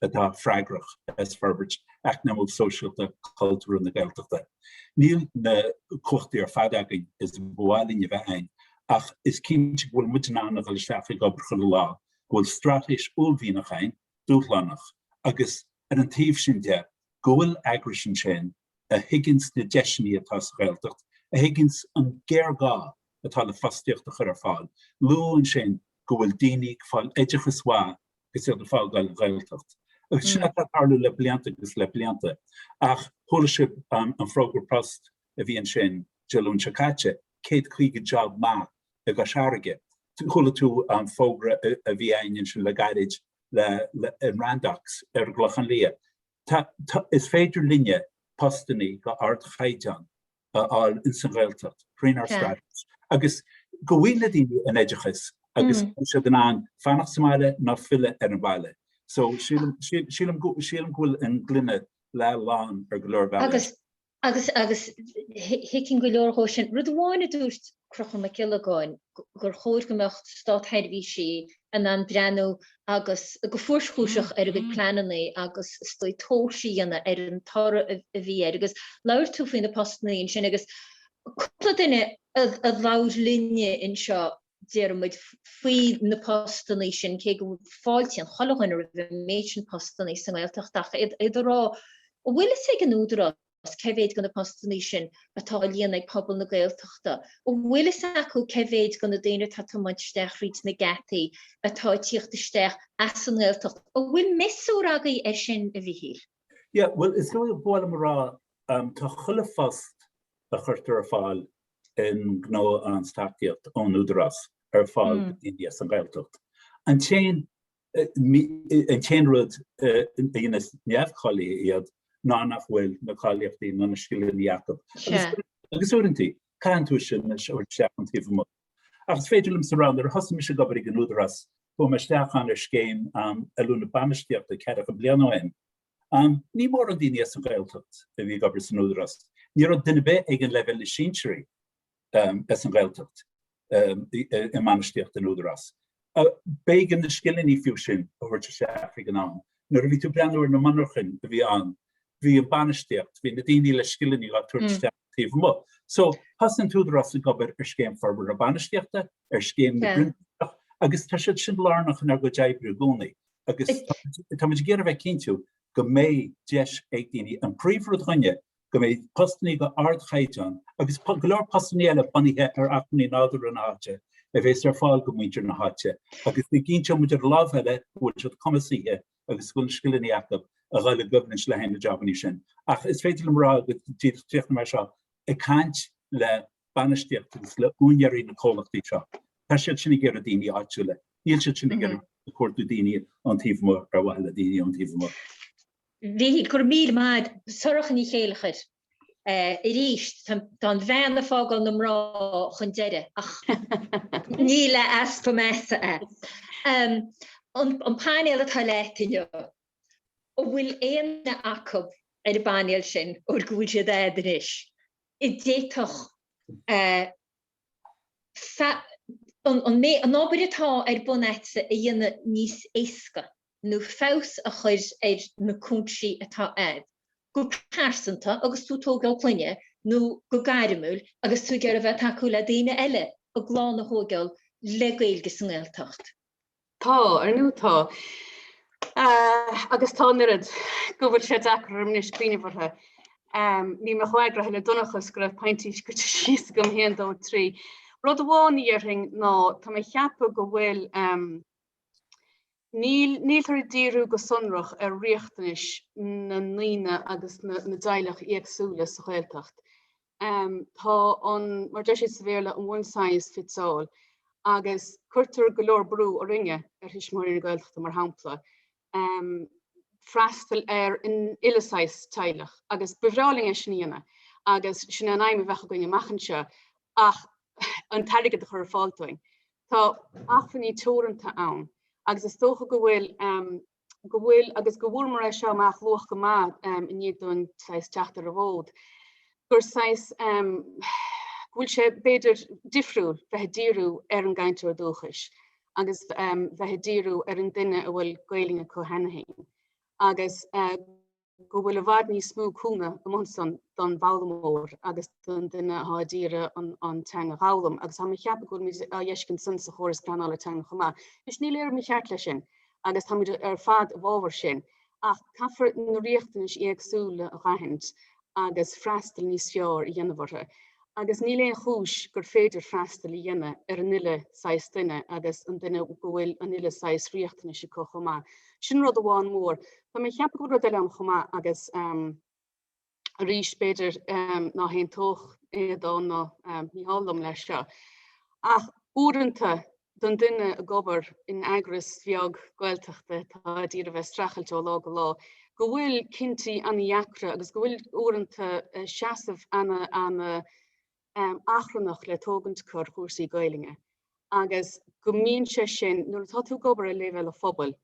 atá freagrach as forbairt eacnamaíoch, sóisialta, cultúrtha na Gaeltachta. Níl na cumhachtaí ar fad againn a ba mhaith linn a bheith againn, ach is cinnte go bhfuil muid in ann a dhul isteach ag obair chuile lá, go bhfuil straitéis uaillmhianach againn, dúshlánach, agus ar an taobh sin de, go bhfuil eagrais ansin a thuigeanns na deiseanna atá sa Ghaeltacht, a thuigeanns an géarghá atá le fostaíocht a chur ar fáil. Luadh ansin go bhfuil daoine ag fáil oideachas mhaith agus iad ag fágáil an Ghaeltacht. Agus sin atá ag tarlú le blianta agus le blianta. Ach chuala sibh an fógra post a bhí ansin Dé Luain seo caite, céad caoga job maith i gCois Fharraige. Chuala tú an fógra a bhí ansin le gairid le Randox ar an gClochán Liath. Tá, tá, is féidir linne postannaí de ardchaighdeán a fháil ins an Ghaeltacht trínár straitéis agus go bhfuil na daoine an t-oideachas agus go bhfuil siad in ann fanacht sa mbaile nó filleadh ar an bhaile. So sílim, sílim, sílim go bhfuil an gloine leath lán ar go leor bealaí. Agus, agus, thuigfinn go leor dhe sin. Rud amháin a dúirt Conchúr Ó Giollagáin, gur chóir go mbeadh státsheirbhísí in ann breathnú agus, go fuarchúiseach ar a gcuid pleananna agus is dóigh tomhais a dhéanamh ar an toradh a bhí air agus labhair tú faoi na postannaí ansin agus cúpla duine a labhair linne anseo deirimid faoi na postannaí sin, cé go bhfuil fáilte ag chuile dhuine roimh an méid sin postannaí sa nGaeltacht, ach iad a rá, an bhfuil fhios ag an Údarás cé mhéid de na postannaí sin atá á líonadh ag pobal na Gaeltachta? An bhfuil fhios acu cé mhéid de na daoine atá ag tiomáint isteach thríd na geataí atá ag tíocht isteach as an nGaeltacht? An bhfuil miosúr agaibh air sin, a Mhíchíl? Yeah, bhuel, is dóigh, ba mhaith liom a rá, tá chuile phost a chuirtear ar fáil i ngnó le tacaíocht ón Údarás ar fáil do dhaoine as an Ghaeltacht. An t-aon rud a dhéanas neamhcháilithe iad ná nach bhfuil na cáilíochtaí nó na scileanna acu. Agus uaireanta, caitheann tú sin a thabhairt isteach ón taobh amuigh. Agus is féidir liomsa a rá, nuair a thosaigh mise ag obair ag an Údarás, chuaigh mé isteach ann ar scéim oiliúna bainistíochta ceathracha bliain ó shin. Ní mórán daoine as an Ghaeltacht a bhí ag obair san Údarás. Ní raibh duine ar bith ag an leibhéal is sinsearaí as an Ghaeltacht i mbainistíocht an Údarás. B'éigean na scileanna, fiú, sin a thabhairt isteach ag an am. Nuair a bhí tú ag breathnú ar na monarchain a bhí ann, bhí an bainistíocht, bhí na daoine le scileanna á dtabhairt isteach ón taobh amuigh. So, thosaigh an tÚdarás ag obair ar scéim forbartha bainistíochta, ar scéim na bprintíseach, agus tá siad sin lárnach inár gcuid oibre i gcónaí. Agus tá muid ag iarraidh a bheith ag cinntiú go mbeidh deis ag daoine, an príomhrud dhúinne, go mbeidh postanna go ardchaighdeán, agus go leor postanna eile bunaithe ar acmhainní nádúrtha na háite, a bheas ar fáil go muintir na háite, agus go gcinnteoidh muid ar láimh eile go bhfuil siad cumasaithe agus go bhfuil na scileanna acu a dhul i gcoimhlint le haghaidh na jobannaí sin. Ach is féidir liom a rá go dtiocfainn mar seo ag caint le bainistíocht agus le úinéirí na comhlachtaí seo. Tá siad sin ag iarraidh daoine áitiúla. Níl siad sin ag iarraidh cuartú daoine ón taobh amuigh ar mhaithe le daoine ón taobh amuigh. Mhíchíl, Go raibh míle maith. Sorcha Ní Chéilleachair, Arís, tá muid ag fágáil na mná chun deiridh ach ní le easpa measa é. An painéal atá leat inniu, an bhfuil éinne acu ar an bpainéal sin a bhfuil sé a'd anois? a d'fhéadfadh an obair atá ar bun a'dsa a dhéanamh níos éasca nó feabhas a chur ar na cúinsí atá a'd, go pearsanta agus tú ag tógáil clainne, nó go gairmiúil agus tú ag iarraidh a bheith ag tacú le daoine eile a gclann a thógáil le Gaeilge sa nGaeltacht. Tá, ar ndóigh tá. Agus tá an oiread go bhfuil sé deacair orm anois cuimhneamh orthu. Níl mé chomh eagraithe le Donnchadh go raibh pointí scrite síos agam, haon, dó, trí. Rud amháin a dhéarfainn ná tá mé ag ceapadh go bhfuil, níltear ag díriú go sonrach ar riachtanais na ndaoine agus na dteaghlach éagsúla sa Ghaeltacht. Tá an mar deir siad sa Bhéarla an one size fits all agus cuirtear go leor brú orainne, ar thuismitheoirí na Gaeltachta mar shampla, freastal ar an uile saghas teaghlach agus ba bhreá linn é sin a dhéanamh agus sin é an aidhm a bheadh againn amach anseo ach an t-airgead a chur ar fáil dúinn. Tá acmhainní teoranta ann agus is dócha go bhfuil an go bhfuil, agus go bhfuaireamar é seo amach luath go maith i ndiaidh dúinn saghas teacht ar an bhfód, gur saghas, go bhfuil sé, b'fhéidir, difriúil bheith ag díriú ar an gcainteoir dúchais agus bheith ag díriú ar an duine go bhfuil Gaoluinn acu cheana féin agus, go bhfuil i bhfad níos mó cúnamh amuigh ansan don bhfoghlaimeoir agus don duine atá ag iarraidh an teanga a dh'fhoghlaim, agus táim ag ceapadh go bhfuil muid á dh'fheiscint san sa chóras pleanála teanga chomh maith. Anois, níl aon rud mícheart leis sin, agus tá muid ar fad i bhfábhar sin, ach caithfear na riachtanais éagsúla a dh'aithint agus freastal níos fearr a dhéanamh orthu. Agus níl aon chúis nach féidir freastal a dhéanamh ar an uile shaghas duine agus an duine go bhfuil an uile shaghas riachtanais acu chomh maith. Sin rud amháin mór. Tá mé ag ceapadh go bhfuil rud eile ann chomh maith agus arís b'fhéidir ná haontódh Aodhán ná Micheál liom leis seo ach uaireanta don duine ag obair in eagras bheag Gaeltachta atá ag iarraidh a bheith ag streachailt ó lá go lá go bhfuil cinntí an-deacra agus go bhfuil uaireanta seasamh an-an achrannach le tógaint ar chúrsaí Gaelainne agus go mbíonn sé sin, nuair atá tú ag obair ar léibhéal an phobail,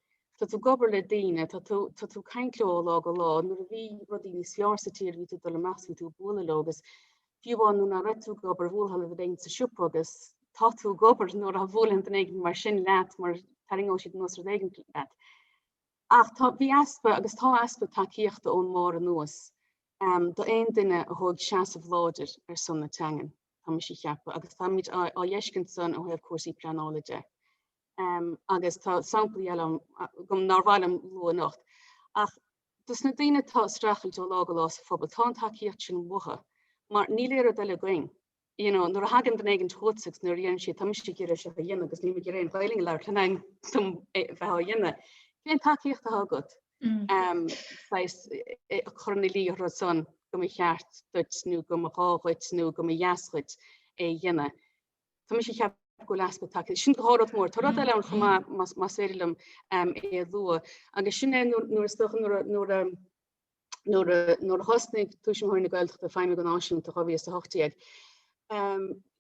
tá tú ag obair le daoine, tá tú, tá tú ag caint leo ó lá go lá. Nuair a bhí rudaí níos fearr sa tír, bhí tú ag dul amach 's bhí tú ag bualadh leo agus fiú amháin nuair nach raibh tú ag obair, bhuailfeá le duine éigin sa siopa agus tá tú ag obair nuair a bhuaileann duine éigin mar sin leat mar tharraingeoidh siad anuas rud éigin leat. Ach tá, bhí easpa, agus tá easpa tacaíochta ón mbarr anuas d'aon duine a thóg seasamh láidir ar son na teangan, tá mise a cheapadh, agus táimid á fheiscint san ó thaobh cúrsaí pleanála de. Agus tá samplaí eile agam nár mhaith liom lua anocht. Ach dos na daoine atá ag streachailt ó lá go lá sa phobal, tá an tacaíocht sin uathu, mar ní léir a' dlí againn. you know, nuair a thagann duine éigin chugat agus nuair a deireann siad táimse ag iarraidh é seo a dhéanamh agus nílim ag iarraidh aon Ghaelainn i lár chan ainn dom bheith á dhéanamh, cén tacaíocht atá agat? em, saghas cur ina luí, rud ansan, go mba cheart duit nó go mba ghá dhuit nó go mba dheas dhuit é a dhéanamh. Tá mise ag ceapadh go bhfuil easpa tacaíochta. Sin dhá rud mhór. Tá rud eile ann chomh maith, más, más féidir liom em, é a lua, agus sin é nuair, nuair is dócha, nuair a, nuair a, nuair a nuair a thosnaigh Tuismitheoirí na Gaeltachta ag feidhmiú go náisiúnta in 2018.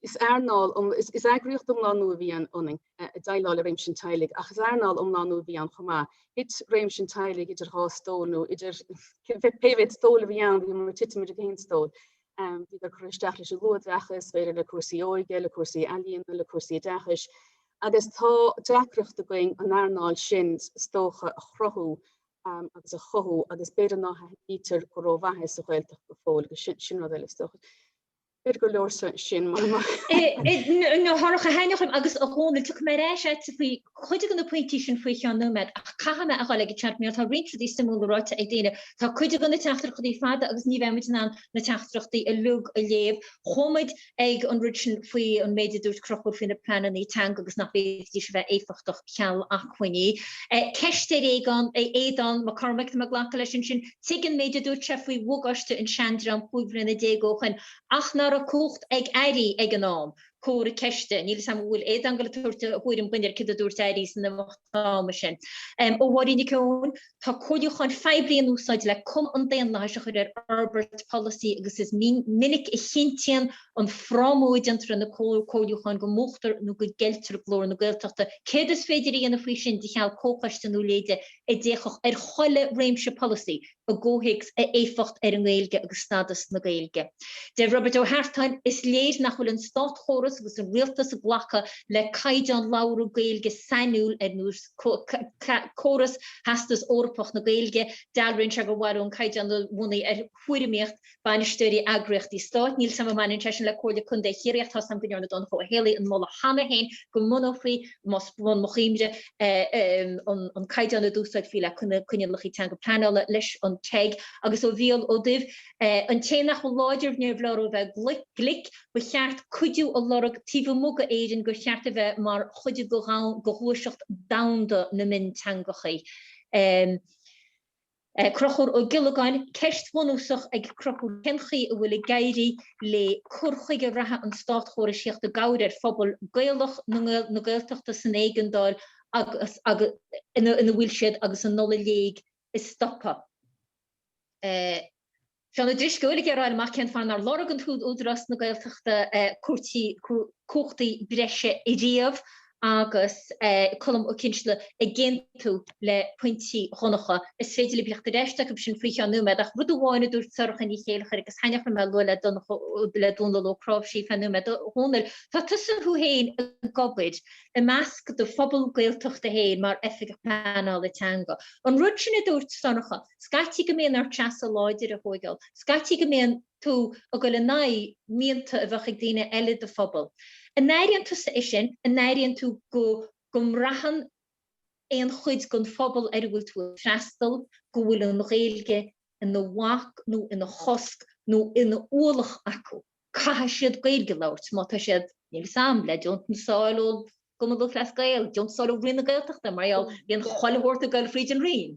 Is earnáil iom-, is is eagraíocht iomlán nua a bhí ann ionainn, ag déileáil le réimse an teaghlaigh, ach is earnáil iomlán nua a bhí ann chomh maith. Thit réimse an teaghlaigh idir dhá stól, nó idir pé mhéad stól a bhí ann, bhí muid, thit muid ag aon stól. Bhíodar ag cur isteach leis an luathoideachas, b'fhéidir le cúrsaí óige, le cúrsaí ealaíona, le cúrsaí oideachais, agus tá deacracht againn an earnáil sin, is dócha, a chruthú agus a chothú agus b'fhéidir ná haithnítear go rómhaith é sa Ghaeltacht go fóill agus sin, sin rud eile is dócha. B'fhéidir gur leor san, sin mar a mheasaim. Go raibh maith agat, a Shorcha, agus a Dhónaill, tiocfaidh mé ar ais agatsa faoi chuid de na pointí sin faoi cheann nóiméad ach caithfidh mé a ghabháil ag an seanmhír, tá roinnt rudaí suimiúla ráite ag daoine, tá cuid de na teachtaireachtaí fada agus ní bheimid in ann na teachtaireachtaí uilig a léamh chomh maith. ag an rud sin faoi an méid a dúirt Conchúr faoi na pleananna teanga agus nach bhféadfaidís a bheith éifeachtach cheal acmhainní. Ceist ar Aodán Mac Cormaic, tá mé ag glacadh leis ansin, tuigeann an méid a dúirt sé faoi bhagáiste an tseandream cúig bhliana déag ó shoin ach ná raibh cumhacht ag airí ag an am. Comhartha ceiste. Níl 'fhios a'm an bhfuil Aodán ag gabháil a tabhairt a thuairim dúinn ar cad a dúirt airí san imeacht ama sin. Ó Mháirín Nic Eoin. Tá comhairliúcháin phoiblí in úsáid le cuma an daonlathais a chur ar fhorbairt polasaí agus is minic a chinntíonn an frámú a déantar ar na comhairliúcháin go múchtar nó go gceiltear glór na Gaeltachta, céard is féidir a dhéanamh faoi sin de cheal comhchoiste nó a leithéide a d'fhéachfadh ar chuile réimse polasaí i gcomhthéacs a éifeacht ar an nGaeilge agus stádas na Gaeilge? Deir Roibeard Ó hEartáin, Is léir nach bhfuil an státchóras agus an rialtas ag glacadh le caighdeán labhartha Gaeilge sainiúil ar nós córas Theastas Eorpach na Gaeilge, dealraíonn sé gurbh fhearr leo an caighdeán a bhunú ar thuairimíocht bainisteoirí eagraíochtaí stáit. Níl 'fhios a'm an mbaineann sé sin le Comhairle Contae Chiarraí ach tá 'fhios a'm go ndearna Donncha Ó hÉallaithe an moladh cheana féin go mbunófaí, más buan mo chuimhne, an caighdeán a d'úsáidfí le coinníollacha teanga pleanála leis an TEG agus ó Mhícheál Ó Duibh, an té nach bhfuil láidir, ní foláir dó a bheith glic, Ba cheart cuidiú a lorg taobh amuigh d'Éirinn gur cheart a bheith mar chuid de ghluaiseacht domhanda na mionteangachaí. Conchúr Ó Giollagáin, Ceist bhunúsach ag Conchúr cén chaoi a bhfuil ag éirí le cur chuige reatha an státchórais theacht i gcabhair ar phobal Gaelach na Gaeltachta san éigeandáil agus ina bhfuil siad agus an dul i léig a stopadh. Seán Ó Drisceoil ag iarraidh fáil amach cén fáth nár lorg an tÚdarás na Gaeltachta cumhachtaí breise riamh agus Colm Ó Cinnseala ag aontú le pointí Dhonncha. Is féidir libh thíocht ar ais acu sin faoi cheann nóiméad ach rud amháin a dúirt Sorcha Ní Chéilleachair agus thaitneodh liom é a lua le Dónall Ó Cnáimhsí feadh nóiméad. Dhónaill, tá tusa thú féin ag obair i measc do phobal Gaeltachta féin mar Oifigeach Pleanála Teanga. An rud sin a dúirt Sorcha, scaití go mbíonn ort seasamh láidir a thóigeáil, scaití go mbíonn tú ag goil in aghaidh mianta a bheadh ag daoine eile den phobal. An airíonn tusa é sin? An airíonn tú go go mbraitheann aon chuid den phobal ar a bhfuil tú ag freastal go bhfuil an Ghaeilge ina bhac nó ina chosc nó ina ualach acu? Caithfidh siad Gaeilge a labhairt má tá siad, níl 'fhios a'm, le deontas a fháil ón gCumann Lúthchleas Gael, deontas a fháil ó Roinn na Gaeltachta mar gheall, bíonn chuile shórt ag goil fríd an Roinn.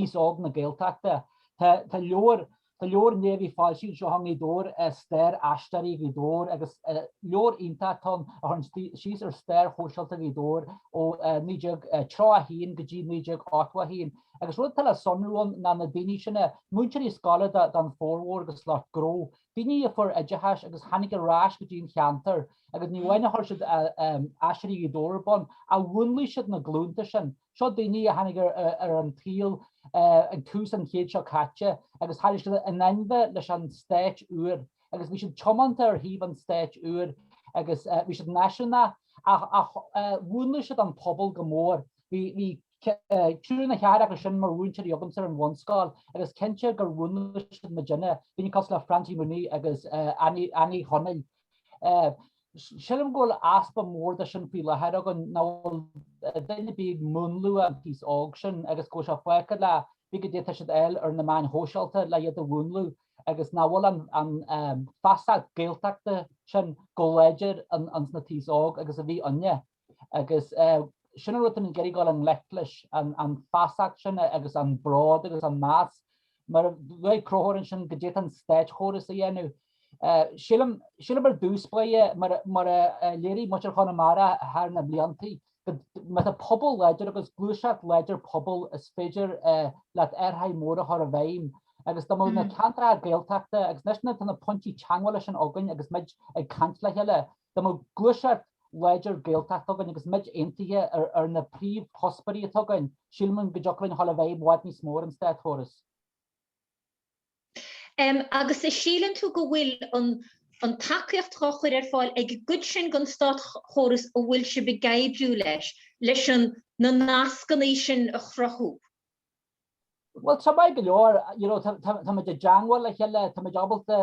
aos óg na Gaeltachta. Tá leabhar i ndiaidh a bheith foilsithe anseo i nGaoth Dobhair, Stair Aisteoirí Ghaoth Dobhair, agus leabhar iontach atá ann a chuireann síos ar stair shóisialta Ghaoth Dobhair ó 1931 go dtí 1981. Agus rud atá le sonrú ann ná na daoine sin, múinteoirí scoile don fhormhór agus lucht gnó, daoine a fuair oideachas agus tháinig ar ais go dtí an ceantar agus ní amháin a chuir siad Aisteoirí Ghaoth Dobhair ar bun ach mhúnlaigh siad na glúnta sin. Seo daoine a tháinig ar an tsaol ag tús an chéid seo caite agus tháinig siad in inmhe leis an stát úr agus bhí siad tiomanta ar thaobh an stáit úir agus bhí siad náisiúnach, mhúnlaigh siad an pobal go mór. Bhí triúr nó ceathrar acu sin mar mhúinteoirí agamsa ar an bhunscoil agus cinnte gur mhúnlaigh siad na daoine, daoine cosúil le Francie Mooney agus Annie Chonaill. Sílim go bhfuil easpa mór de sin faoi láthair againn nach bhfuil duine ar bith ag múnlú an t-aos óg sin agus go bhfuil sé fágtha le cibé go dtig leo siad fháil ar na meáin shóisialta le iad a mhúnlú agus nach bhfuil an fheasacht Gaeltachta sin go láidir ins na t-aos óg agus a bhí ionainne. Agus sin an rud atá muid ag iarraidh dul i ngleic leis, an feasacht sin agus an bród agus an meas, mar a dúirt Conchúr ansin, go bhféadfadh an státchóras a dhéanamh. Sílim, sílim ar dtús báire, mar a léirigh muintir Chonamara thar na mblianta, go, má tá pobal láidir agus gluaiseacht láidir pobail, is féidir leat athraithe móra a chur i bhfeidhm. Agus dá mbeadh na ceantracha Gaeltachta, agus anois tá na pointí teagmhála sin againn agus muid ag caint le chéile, Dá mbeadh gluaiseacht láidir Gaeltachta againn agus muid aontaithe ar na príomhchuspóirí atá againn, sílimse go dtiocfadh linn a dhul i bhfeidhm i bhfad níos mó ar an státchóras. M, Agus an síleann tú go bhfuil an tacaíocht dhá chur ar fáil ag an gcuid sin den státchóras a bhfuil sibh ag oibriú leis, leis na nascanna sin a chruthú? Bhuel, tá, maith go leor, you know, táimid ag teangmháil le chéile, táimid ábalta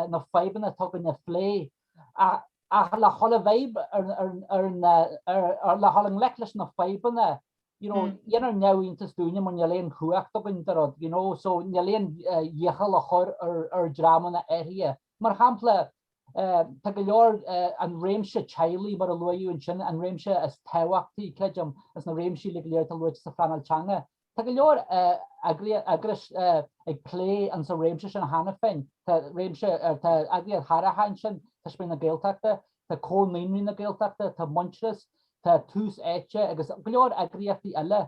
na fadhbanna atá againn a phlé, ach le dhul i bhfeidhm ar an, le dhul i ngleic leis na fadhbanna, you know, dhéanfar neamhiontas dúinne mar níl aon chumhacht againn dáiríre, you know, so níl aon iachall á chur ar dhreamanna áirithe. Mar shampla, Tá go leor, an réimse teaghlaigh, mar a luaíodh ansin, an réimse is tábhachtaí, creidim, as na réimsí uilig léir atá luaite sa phleanáil teanga. Tá go leor eagrais ag plé an sa réimse sin cheana féin. Tá réimse, tá eagraíocht tharchéimnitheach ansin, Tuismitheoirí na Gaeltachta, tá Comhar Naíonraí na Gaeltachta, tá Muintearas, tá Tús Áite agus go leor eagraíochtaí eile.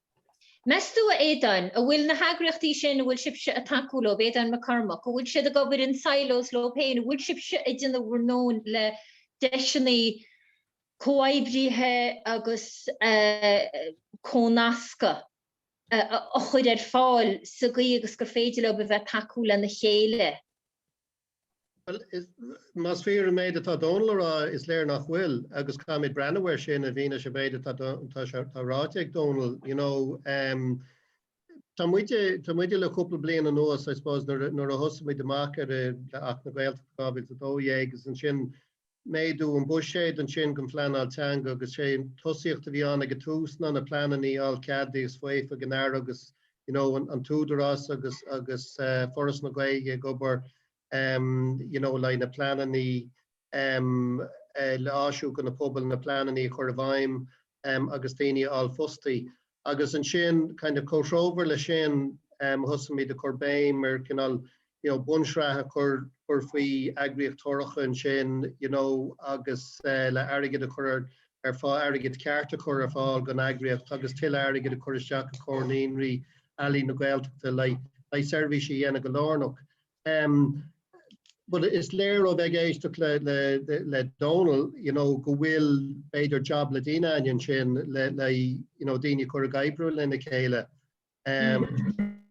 Meastú, a Aodáin, an bhfuil na heagraíochtaí sin a bhfuil sibhse ag tacú leo, a Aodáin Mhic Cormaic, an bhfuil siad ag obair in silos leo féin, an bhfuil sibhse ag déanamh bhur ndóthain le deiseanna comhoibrithe agus comhnascadh a chur ar fáil sa gcaoi agus gur féidir leo a bheith ag tacú lena chéile? Bhuel, más fíor an méid atá Dónal a rá, is léir nach bhfuil, agus caithfimid breathnú air sin i bhfianaise an mhéid atá ráite ag Dónal. You know, tá muide le cúpla bliain anuas, I suppose, nuair a thosaigh muid amach ar Acht na Gaeltachta 2012 agus ansin méadaíodh an buiséad ansin don phleanáil teanga agus sé an tosaíocht a bhí ann ag an tús ná na pleananna a fháil ceadaithe agus faofa ag an Aire agus you know an tÚdarás agus agus Foras na Gaeilge ag obair you know le na pleananna le áisiú do na pobail na pleananna a chur i bhfeidhm agus daoine a fháil fostaithe Agus ansin, kind of comhthreomhar leis sin, thosaigh muid ag cur béim ar cineál, you know, bunsraith a chur chur faoi eagraíocht Torracha ansin, you know, agus le airgead a chur ar ar fáil, airgead ceart a chur ar fáil don eagraíocht agus tuilleadh airgid a chur isteach i gComhar Naíonraí Ealaín na Gaeltachta, le, le seirbhísí a dhéanamh go lárnach. But is léir ó bheith ag éisteacht le, le, le Dónall, you know, go bhfuil, b'fhéidir, jab le déanamh againne ansin le, le, you know, daoine a chur ag oibriú lena chéile.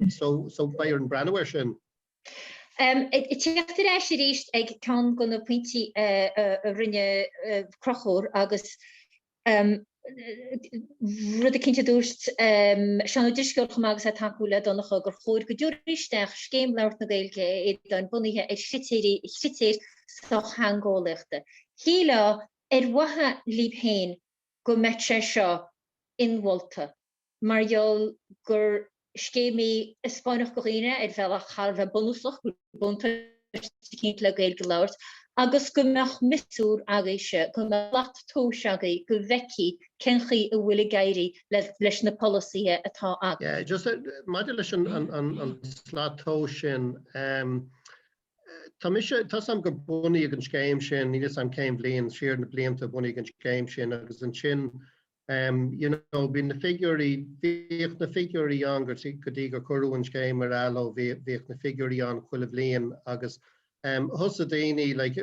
So, so beidh orainn breathnú air sin. Ag teacht ar ais arís ag ceann de na pointí a rinne Conchúr agus Rud eicínt a dúirt Seán Ó Drisceoil chomh maith agus é ag tacú le Donncha gur chóir go dtabharfaí isteach Scéim Labhairt na Gaeilge a dó bunaithe ar chritéir sochtheangeolaíochta. Shílfeá, ar mhaithe libh féin, go mbeadh sé seo inmholta. mar gheall gur scéim í a spáinfeadh do dhaoine ar bhealach thar a bheith bunúsach, go raibh buntáiste eicínt le Gaeilge a labhairt agus go mbeadh miosúr agaibhse, go mbeadh slat tomhais agaibh go bhfeicfí cén chaoi a bhfuil ag éirí leis na polasaithe atá agaibh. Yeah, just maidir leis an slat tomhais sin, tá mise, tá 's a'm gur bunaíodh an scéim sin, níl 'fhios a'm cén bhliain, siar na blianta a bunaíodh an scéim sin agus ansin, you know bhí na figiúirí, bhíodh na figiúirí ann go dtí gur cuireadh an scéim ar athló, bhíodh na figiúirí ann chuile bhliain agus thosaigh daoine, like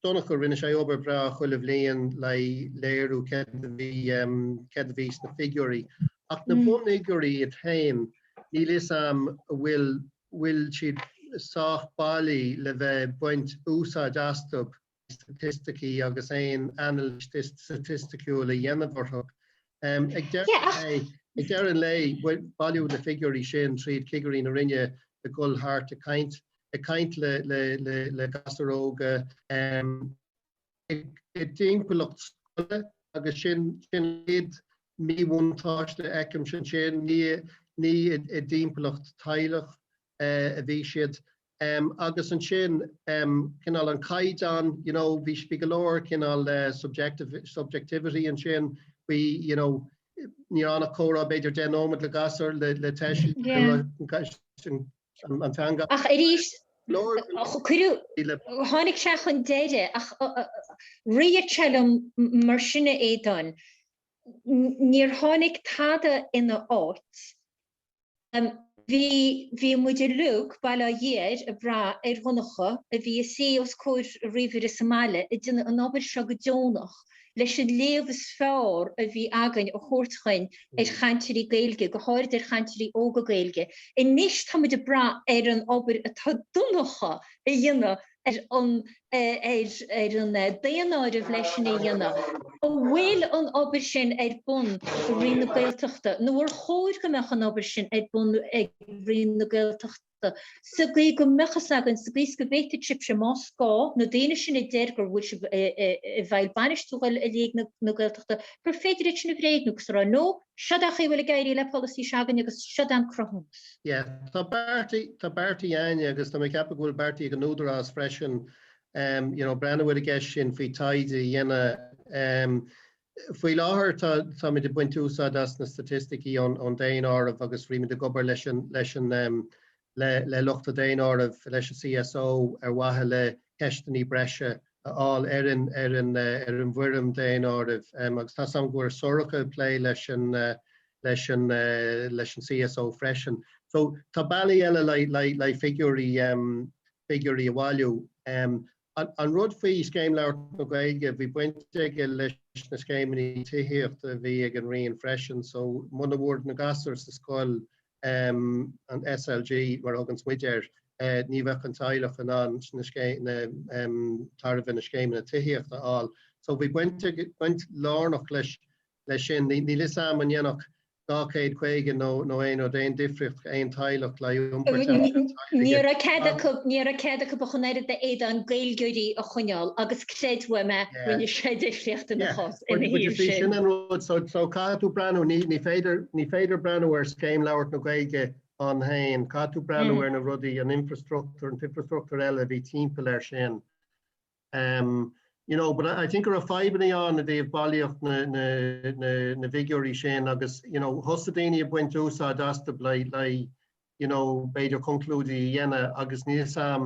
Donncha, rinne sé obair breá chuile bhliain le léiriú céard a bhí, céard a bhí sna figiúirí ach na bunfhigiúirí iad féin, níl 'fhios a'm a' bhfuil, bhfuil siad sách bailí le bheith, baint úsáid astu. staitisticí agus aon anailís staitisticiúil a dhéanamh orthu. Ag deireadh an lae, bailíodh na figiúirí sin tríd cigirí na Roinne ag dul thart ag caint, ag caint le gasúir óga i dtimpeallacht scoile agus sin an chéad míbhuntáiste a fheicimse ansin, ní i dtimpeallacht teaghlach a bhí siad. Agus ansin cineál an caighdeán, you know, bhí bhí go leor cineál subjectivity ansin faoi, you know, ní raibh ach comhrá b'fhéidir deich nóiméad le gasúr le le teisteáil an teanga. Ach arís, cuireadh, tháinig sé chun deiridh ach rith sé liom mar sin a Aodáin, níor tháinig tada ina áit Bhí, bhí muid i luck, bail ó Dhia air, ag brath ar Dhonncha, a bhí ina shuí os comhair a ríomhaire sa mbaile, ag déanamh an obair seo go deonach, leis an léamh is fearr a bhí againn a thabhairt chugainn ar chainteoirí Gaeilge, go háirid ar chainteoirí óga Gaeilge. Anois, táimid ag brath ar an obair atá Donncha a dhéanamh ar an daonáireamh le sin a dhéanamh. An bhfuil an obair sin ar bun ag Roinn na Gaeltachta nó ar chóir go mbeadh an obair sin ar bun ag Roinn na Gaeltachta sa gcaoi go mbeadh fhios againn, sa gcaoi is go bhféadfadh sibhse, más gá, na daoine sin a deir go bhfuil sibh i bhfeighil bainistiú léig na Gaeltachta, gur féidir iad sin a bhréagnú agus a rá, 'No, seod é an chaoi a bhfuil ag éirí le polasaí s'againne agus seod é an cruthúnas. Yeah. Tá beartaí, tá beartaí againne agus tá mé ag ceapadh go bhfuil beartaí ag an Údarás freisin, you know, breathnú ar an gceist sin faoi taighde a dhéanamh. Faoi láthair tá, táimid ag baint úsáid as na staitisticí ón, ón Daonáireamh agus bhí muid ag obair leis an, leis an, le, le lucht an Daonáirimh, leis an CSO ar mhaithe le ceisteanna breise a fháil ar an, ar an, ar an bhfoirm Daonáirimh. Agus tá a fhios agam go bhfuair Sorcha plé leis an, leis an CSO freisin. So tá bealaí eile le figiúirí a bhailiú. An rud faoi Scéim Labhairt na Gaeilge, bhí baint aige leis na scéimeanna tithíochta a bhí ag an Roinn freisin. So muna bhfuair na gasúir sa scoil an SLG, mar a thuganns muid air, ní bheadh an teaghlach in ann tairbhe na scéimeanna tithíochta a fháil. So bhí baint lárnach leis. Leis sin, níl 'fhios a'm an ndéanfadh 250 nó nó aon rud aon difríocht d'aon teaghlach le iompar teaghlach an teaghlaigh. Ní raibh cead acu, ní raibh cead acu ach an oiread a Aodáin Gaeilgeoirí a choinneáil agus creid uaim é, rinne sé difríocht ina chás, ina thaobh sin. Sin an rud, so so caithfidh tú breathnú, ní ní féidir ní féidir breathnú ar Scéim Labhairt na Gaeilge ann féin, caithfidh tú breathnú ar na rudaí, an infrastruchtúr, an t-infrastruchtúr eile a bhí timpeall air sin. You know, but I think go raibh fadhbanna ann i dtaobh bailíocht na, na, na, na bhfigiúirí sin agus you know, thosaigh daoine ag baint úsáid astu le, le you know, b'fhéidir conclúidí a dhéanamh agus níl 'fhios a'm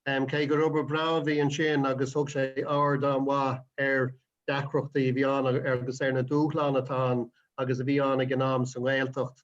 um, cé gur obair breá a bhí ansin agus thug sé ardán maith ar deacrachtaí a bhí ann agus ar na dúshláin atá ann agus a bhí ann ag an am sa nGaeltacht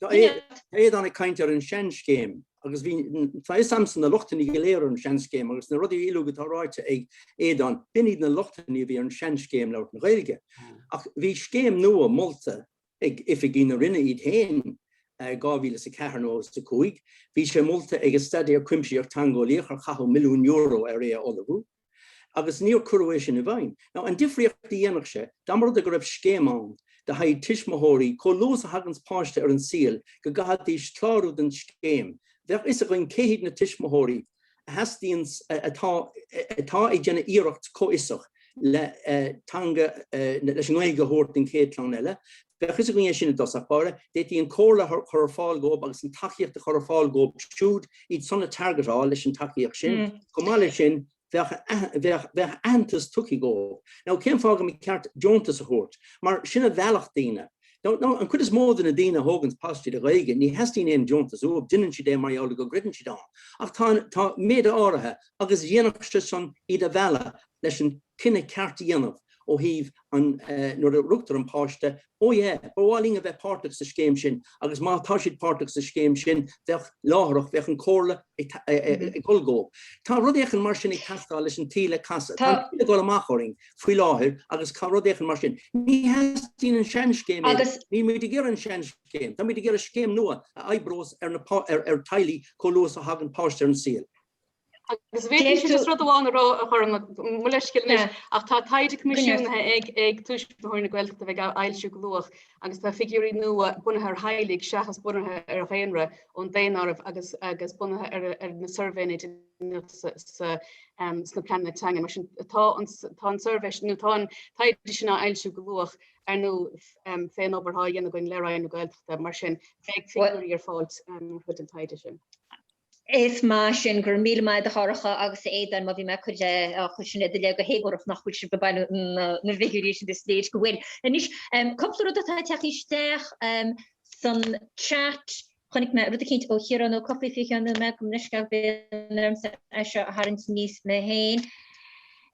Tá Aodhán ag caint ar an seanscéim agus bhí, tá fhios a'msa na lochtanna go léir ar an seanscéim agus na rudaí uilig atá ráite ag Aodhán, b'in iad na lochtanna a bhí ar an seanscéim labhairt na Gaeilge. Ach bhí scéim nua molta ag oifigigh na Roinne, iad féin, 2004 nó is 5, bhí sé molta ag an Staidéar Cuimsitheach Teangeolaíoch ar chaitheamh milliún euro ar é a ullmhú. agus níor cuireadh é sin i bhfeidhm. Now, an difríocht a dhéanfadh sé, dá mba rud é go raibh scéim ann le haghaidh tuismitheoirí, chomh luath is a thaganns páiste ar an saol, go gcaithfidís clárú don scéim, bheadh fhios againn cé hiad na tuismitheoirí a theastaíonns, atá, atá ag déanamh iarracht comhfhiosach le teanga, leis an nGaeilge a thabhairt don chéad clann eile. Bheadh fhios againn é sin i dtosach báire, d'fhéadfaí an comhairle a chur ar fáil dhóibh agus an tacaíocht a chur ar fáil dhóibh siúd, iad san a target-áil leis an tacaíocht sin. Chomh maith le sin, bheadh aitheantas tugtha dhóibh. Now, cén fáth go mba cheart deontas a thabhairt? Mar sin a mheallfadh daoine. Now, now, an chuid is mó de na daoine a thóganns páistí le Gaeilge, ní theastaíonn aon deontas uathu, deineann siad é mar gheall ar go gcreideann siad ann. Ach tá, tá, méid áirithe, agus dhéanfadh sé san iad a mhealladh leis an cinneadh ceart a dhéanamh ó thaobh an nuair a rugtar an páiste, oh yeah, ba mhaith linn a bheith páirteach sa scéim sin agus má tá siad páirteach sa scéim sin bheadh láithreach, bheadh an comhairle ag dul dhóibh. Tá rud éicint mar sin ag teastáil leis an taoille casadh. Tá an taoille ag dul amach orainn faoi láthair agus tá rud éicint mar sin. Ní theastaíonn an seanscéim uainn, níl muid ag iarraidh an seanscéim, tá muid ag iarraidh scéim nua a oibreos ar na, ar teaghlaigh chomh luath is a thagann páiste ar an saol. Agus bhféadfainn Deir sé tú- just rud amháin a rá a chur mo- mo leithscéal anois, Yeah. ach tá taighde Go neart. coimisiúnaithe ag Tuismitheoirí na Gaeltachta a bheidh á fhoilsiú go luath agus tá figiúirí nua bunaithe ar theaghlaigh seachas bunaithe ar dhaonra ón daonáireamh agus bunaithe ar ar na suirbhéanna ins na sna pleananna teanga. Mar sin tá an s- tá an suirbhé sin nó tá an taighde sin á fhoilsiú go luath ar nó em fén obair atá á dhéanamh againn le Roinn na Gaeltachta mar sin beidh Bhuel- figiúirí ar fáilt em ar chuid den taighde sin. Is maith sin, go raibh míle maith agat a Shorcha agus a Aodháin, má bhí mé ag cur cuid de sin i do leith go héagórach nach bhfuil sibh ag bailiú na bhfigiúirí sin is léir go bhfuil. Anois, cúpla rud atá ag teacht isteach san chat, chonaic mé rud eicínt ó Chiarán Ó Cofaigh faoi cheann a mbeadh leisce orm é seo a tharraingt aníos mé féin.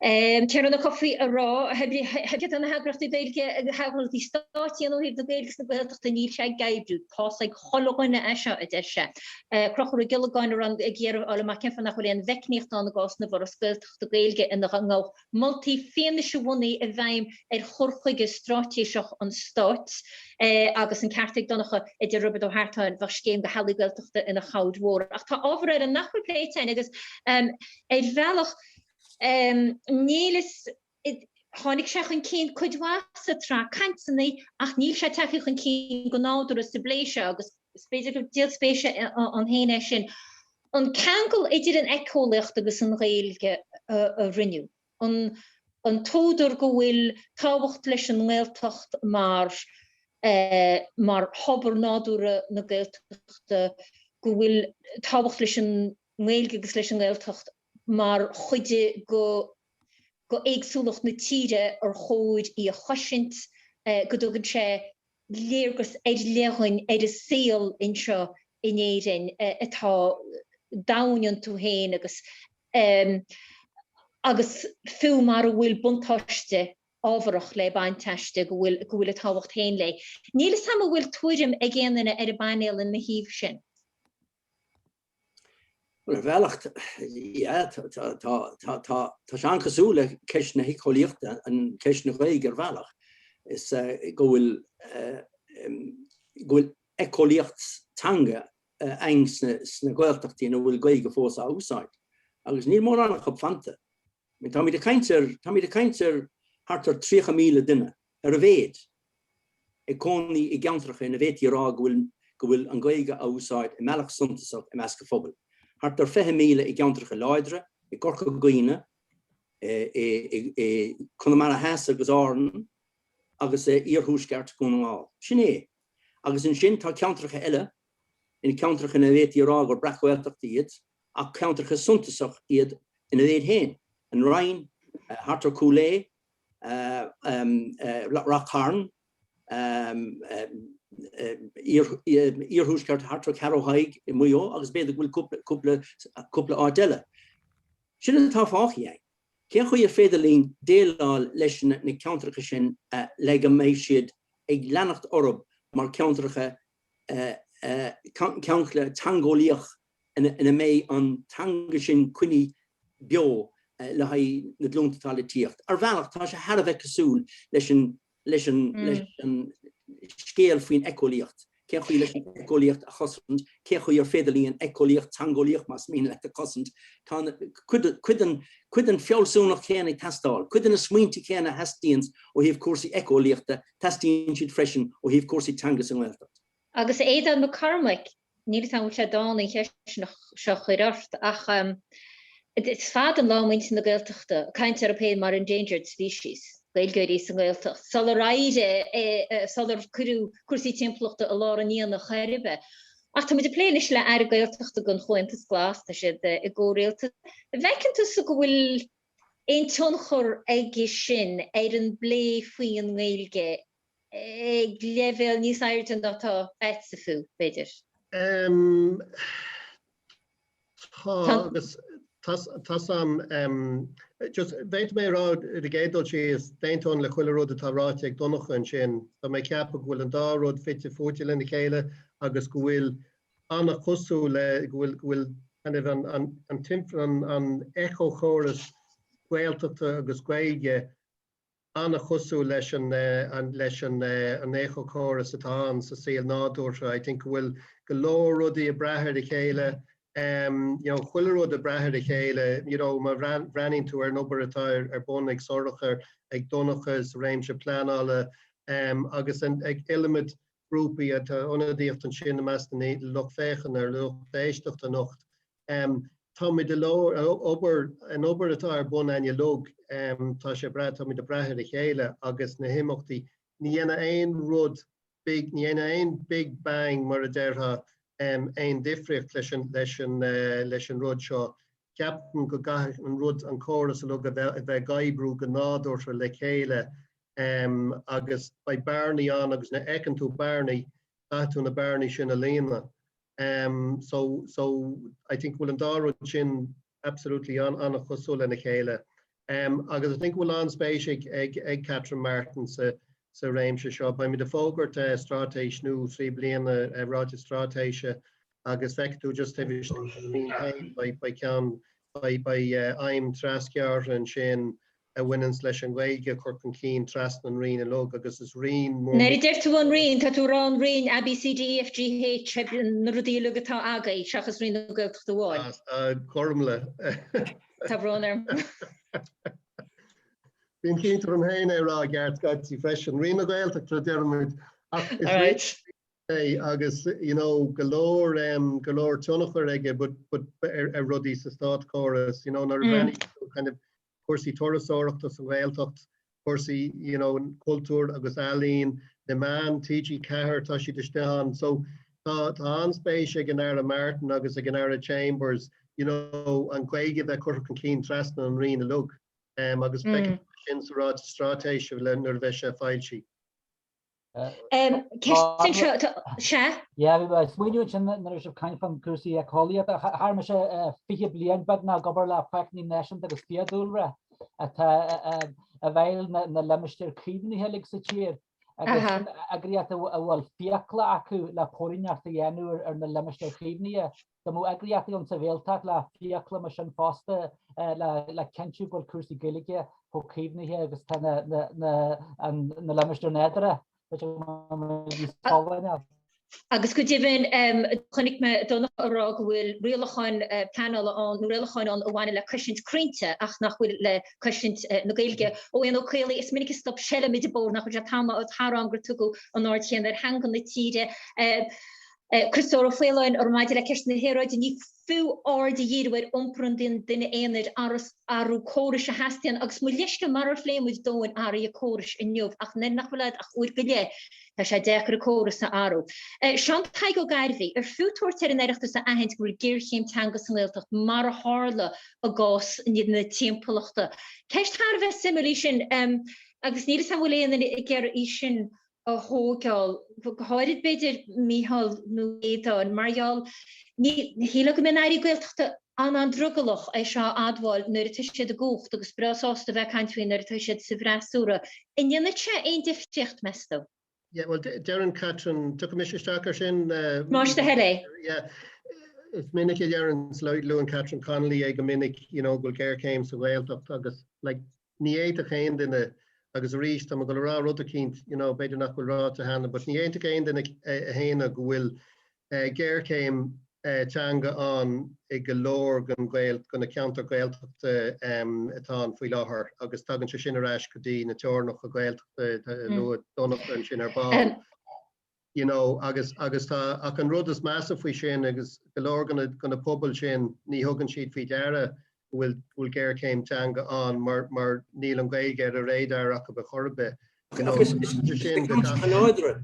Cén fáth nach gcaithfí a rá? Tá na heagraíochtaí Gaeilge agus eagraíochtaí stáit ó thaobh na Gaeilge agus na Gaeltachta, níl sé ag oibriú, tá's ag chuile dhuine é seo, a deir sé. Conchúr Ó Giollagáin ansin ag iarraidh a fháil amach cén fáth nach bhfuil aon mheicníocht ann i gcás na bhforas Gaeltachta, Gaeilge ina gcuid, moltaí fianaise bhunaidh i bhfeidhm ar chur chuige stráitéiseach an stáit agus an ceart ag Donncha, a deir Roibeard Ó hEartáin, bheadh scéim do theaghlaigh Gaeltachta ina chabhair mhór. Ach tá ábhar eile nach bhfuil pléite againn agus ar bhealach, Níl fhios a'm. Tháinig sé chun cinn cuid mhaith sa tsraith cainteanna ach níl sé tagtha chun cinn go nádúrtha sa bplé seo agus is b'fhéidir gur díol spéise ann féin é sin. An ceangal idir an eiceolaíocht agus an Ghaeilge a rinneadh, an t-údar go bhfuil tábhacht leis an nGaeltacht mar phobal nádúrtha na Gaeltachta, go bhfuil tábhacht leis an nGaeilge agus leis an nGaeltacht, mar chuid de, de éagsúlacht na tíre ar chóir í a chosaint, go dtugann sé léargas ar leith dhuinn ar an saol anseo in Éirinn atá domhain inti féin agus fiú mara bhfuil buntáiste ábharach le baint aisti, go bhfuil a tábhacht féin léi. Níl 'fhios a'm an bhfuil tuairim ag éinne ar an bpainéal ina thaobh sin. Bhuel, ar bhealach, yeah, tá sé an-chosúil le ceist na héiceolaíochta, an cheist na Gaeilge ar bhealach, is eh, go bhfuil eh, go bhfuil éiceolaíocht teanga eh, ann sna Gaeltachtaí ina bhfuil Gaeilge fós á úsáid. Agus níl mórán acu fanta. Táimid ag caint ar, táimid ag caint ar thart ar 30,000 duine, ar a mhéid, ag cónaí i gceantracha ina bhféadtaí a rá go bhfuil, go bhfuil an Ghaeilge á úsáid i mbealach suntasach i measc an phobail. Thart ar 20,000 i gceantracha láidre, i gCorca Dhuibhne, i, i, i gConamara Theas agus Árann agus i iarthuaisceart Dhún na nGall. Sin é. Agus ansin tá ceantracha eile ina ceantracha ina bhféadtaí a rá gur Breac-Ghaeltachtaí iad, ach ceantracha suntasach iad ina mhéid féin, An Rinn, thart ar Cúil Aodha, Ráth Cairn, iarthuaisceart, thart ar Cheathrú Thaidhg i Maigh Eo, agus b'fhéidir go bhfuil cúpla áit eile. Sin atá fágtha againn. Cén chaoi ar féidir linn déileáil leis na ceantracha sin le go mbeidh siad ag leanacht orthu mar ceantracha ceangal teangeolaíoch ina mbeidh an teanga sin coinnithe beo le haghaidh na glúnta atá le tíocht. Ar bhealach, tá sé thar a bheith cosúil leis an scéal faoin eiceolaíocht, cén chaoi leis an eiceolaíocht a chosaint, cén chaoi ar féidir linn an eiceolaíocht teangeolaíoch más mian leat, a chosaint. Tá cuid den fealsúnacht chéanna ag teastáil, cuid de na smaointe céanna a theastaíonns ó thaobh cúrsaí eiceolaíochta Teastaíonn siad freisin ó thaobh cúrsaí teanga sa nGaeltacht. Agus Aodhán Mac Cormaic, níl fhios a'm an bhfuil sé dána an cheist seo a chur ort ach is fada an lá muintir na Gaeltachta ag caint orthu féin mar endangered species, Gaeilgeoirí sa nGaeltacht, sular éirigh, sular cuireadh cúrsaí timpeallachta i lár an aonaigh ar chor ar bith. Ach tá muid ag plé anois le Aire Gaeltachta den Chomhaontas Glas, tá siad i gcomhrialtas. An bhfeiceann tusa go bhfuil. aon tionchar aige sin ar an bplé faoin nGaeilge ag leibhéal níos airde ná atá agatsa fiú, b'fhéidir? Tá, tá. Tá, just, bheadh mé ag rá ar an gcéad dul síos, d'aontóinn le chuile rud atá ráite ag Donncha ansin. Tá mé ag ceapadh go bhfuil an dá rud fite fuaite lena chéile agus go bhfuil an-chosúil le go bhfuil an eco-chóras Gaeltachta agus Gaeilge an-chosúil leis an eco-chóras atá ann sa saol nádúrtha. I think go bhfuil go leor rudaí ag brath ar a chéile, you know, chuile rud ag brath ar a chéile, you know, má bhreathnaíonn tú ar an obair atá ar bun ag Sorcha, ag Donncha sa réimse pleanála, agus ag iliomad grúpaí atá ionadaíocht ansin i measc na lucht féachana or lucht éisteachta anocht. Táimid i lár obair, an obair atá ar bun againn uilig, tá sé breá, táimid ag brath ar a chéile agus na himeachtaí. Ní dhéanfaidh aon rud big, ní dhéanfaidh aon big bang mar a déarfá aon difríocht leis an, leis an, leis an rud seo. Ceapaim go gcaithfidh an rud, an córas uilig a bheith ag oibriú go nádúrtha le chéile agus beidh bearnaí ann agus nuair a fheiceann tú bearnaí, caithfidh tú na bearnaí sin a líonadh. So, so, I think go bhfuil an dá rud sin absolutely an-chosúil lena chéile. Agus I think go bhfuil an-spéis ag Catherine Martin sa réimse seo. Beimid ag fógairt straitéis nua trí bliana, Ráiteas Straitéise, agus feicfidh tú just taobh istigh den líon féin, beidh ceann, beidh aidhm trasghearrtha ansin a bhaineanns leis an Ghaeilge a chur chun cinn trasna an Roinn uilig agus is Roinn mór Nuair a deir tú an Roinn, tá tú ag rá an Roinn ABCDEFGH, na rudaí uilig atá agaibh, seachas Roinn na Gaeltachta amháin. Á, a Ghormfhlaith. Tá brón orm. Bíonn sé cinnte orm féin é a rá i gceart scaití freisin. Roinn na Gaeltachta a deirimid ach is Roinn é agus you know go leor um, go leor tionchar aige but, but ar, ar rudaí sa státchóras. You know, nuair a bhreathnaíonn tú kind of cúrsaí turasóireachta sa Ghaeltacht, cúrsaí you know cultúir agus ealaíon, na meán, TG4, tá siad istigh ann. So tá tá an-spéis ag an Aire Martin agus ag an Aire Chambers you know an Ghaeilge a bheith curtha chun cinn trasna an Roinn uilig. Um agus feicfidh tú sin sa ráiteas straitéise le nuair a bheidh sé foilsithe. Ag smaoineamh ansin nuair a bhí sibh ag caint faoi chúrsaí éiceolaíochta. Tá mise fiche bliain beagnach ag obair le Páirceanna Náisiúnta agus fiadhúlra atá i bhfeighil na limistéir chaomhnaithe uilig sa tír, agus eagraíochtaí a bhfuil fiacla acu le póilíneacht a dhéanamh ar na limistéir chaomhnaithe. go mbeadh eagraíochtaí ann sa Ghaeltacht le fiacla mar sin fosta le cinntiú go bhfuil cúrsaí Gaeilge chomh caomhnaithe agus tá na limistéir nádúrtha. Agus go deimhin, chonaic mé Donncha ag rá go bhfuil rialacháin pleanála ann, nó rialacháin ann a bhaineann le cosaint crainnte ach nach bhfuil le cosaint na Gaeilge. Ó Éanna Ó Caollaí, is minic a stop seilmide bóthar nach bhfuil sé tamall fada thar am go dtugtar an aird chéanna ar theanga na tíre. Críostóir Ó Faoláin maidir le ceist na haeráide, ní fiú aird a dhíriú ar iompar an duine aonair, athrú córais a theastaíonn agus mo leisce nár phléigh muid domhainathrú córais inniu, ach nuair nach bhfuil ach uair go leith, tá sé deacair a córas a athrú. Seán Tadhg Ó Gairbhí, ar fiú tabhairt ar an Oireachtas a aithint go bhfuil géarchéim teanga sa nGaeltacht mar a tharla i gcás na timpeallachta. Ceist thar a bheith suimiúil í sin, agus níl fhios agam an bhfuil aon duine ag iarraidh í sin a thógáil, go háirid, b'fhéidir, Micheál nó Aodán, mar gheall, sílim go mbíonn airí Gaeltachta an-an-drogallach é seo a admháil nuair atá siad i gcumhacht agus breá sásta a bheith ag caint faoi nuair atá siad sa bhfreasúra. An ndéanfaidh sé aon difríocht, meas tú? Yeah, well, deireann Catherine, tiocfaidh mise isteach ar sin. Uh, Más é do thoil é. Yeah. Is minic a deireann luann Catherine Connolly é go minic, you know, go bhfuil géarchéim sa Ghaeltacht agus like Ní fhéadfadh aon duine, agus arís, tá mé ag dul a rá rud eicínt, you know, b'fhéidir nach bhfuil ráite cheana, but ní fhéadfadh aon duine a shéanadh go bhfuil géarchéim teanga ann i go leor den, de na ceantair Ghaeltachta atá ann faoi láthair agus tagann sé sin ar ais go dtí na teorainneacha Gaeltachta, a luaigh Donncha ansin ar ball. You know, agus, agus tá, ach an rud is measa faoi sin, agus go leor de na, de na pobail sin, ní thugann siad faoi deara go bhfuil, go bhfuil géarchéim teanga ann, mar, mar níl an Ghaeilge ar a radar acu ar chor ar bith. You know, is ceantracha láidre,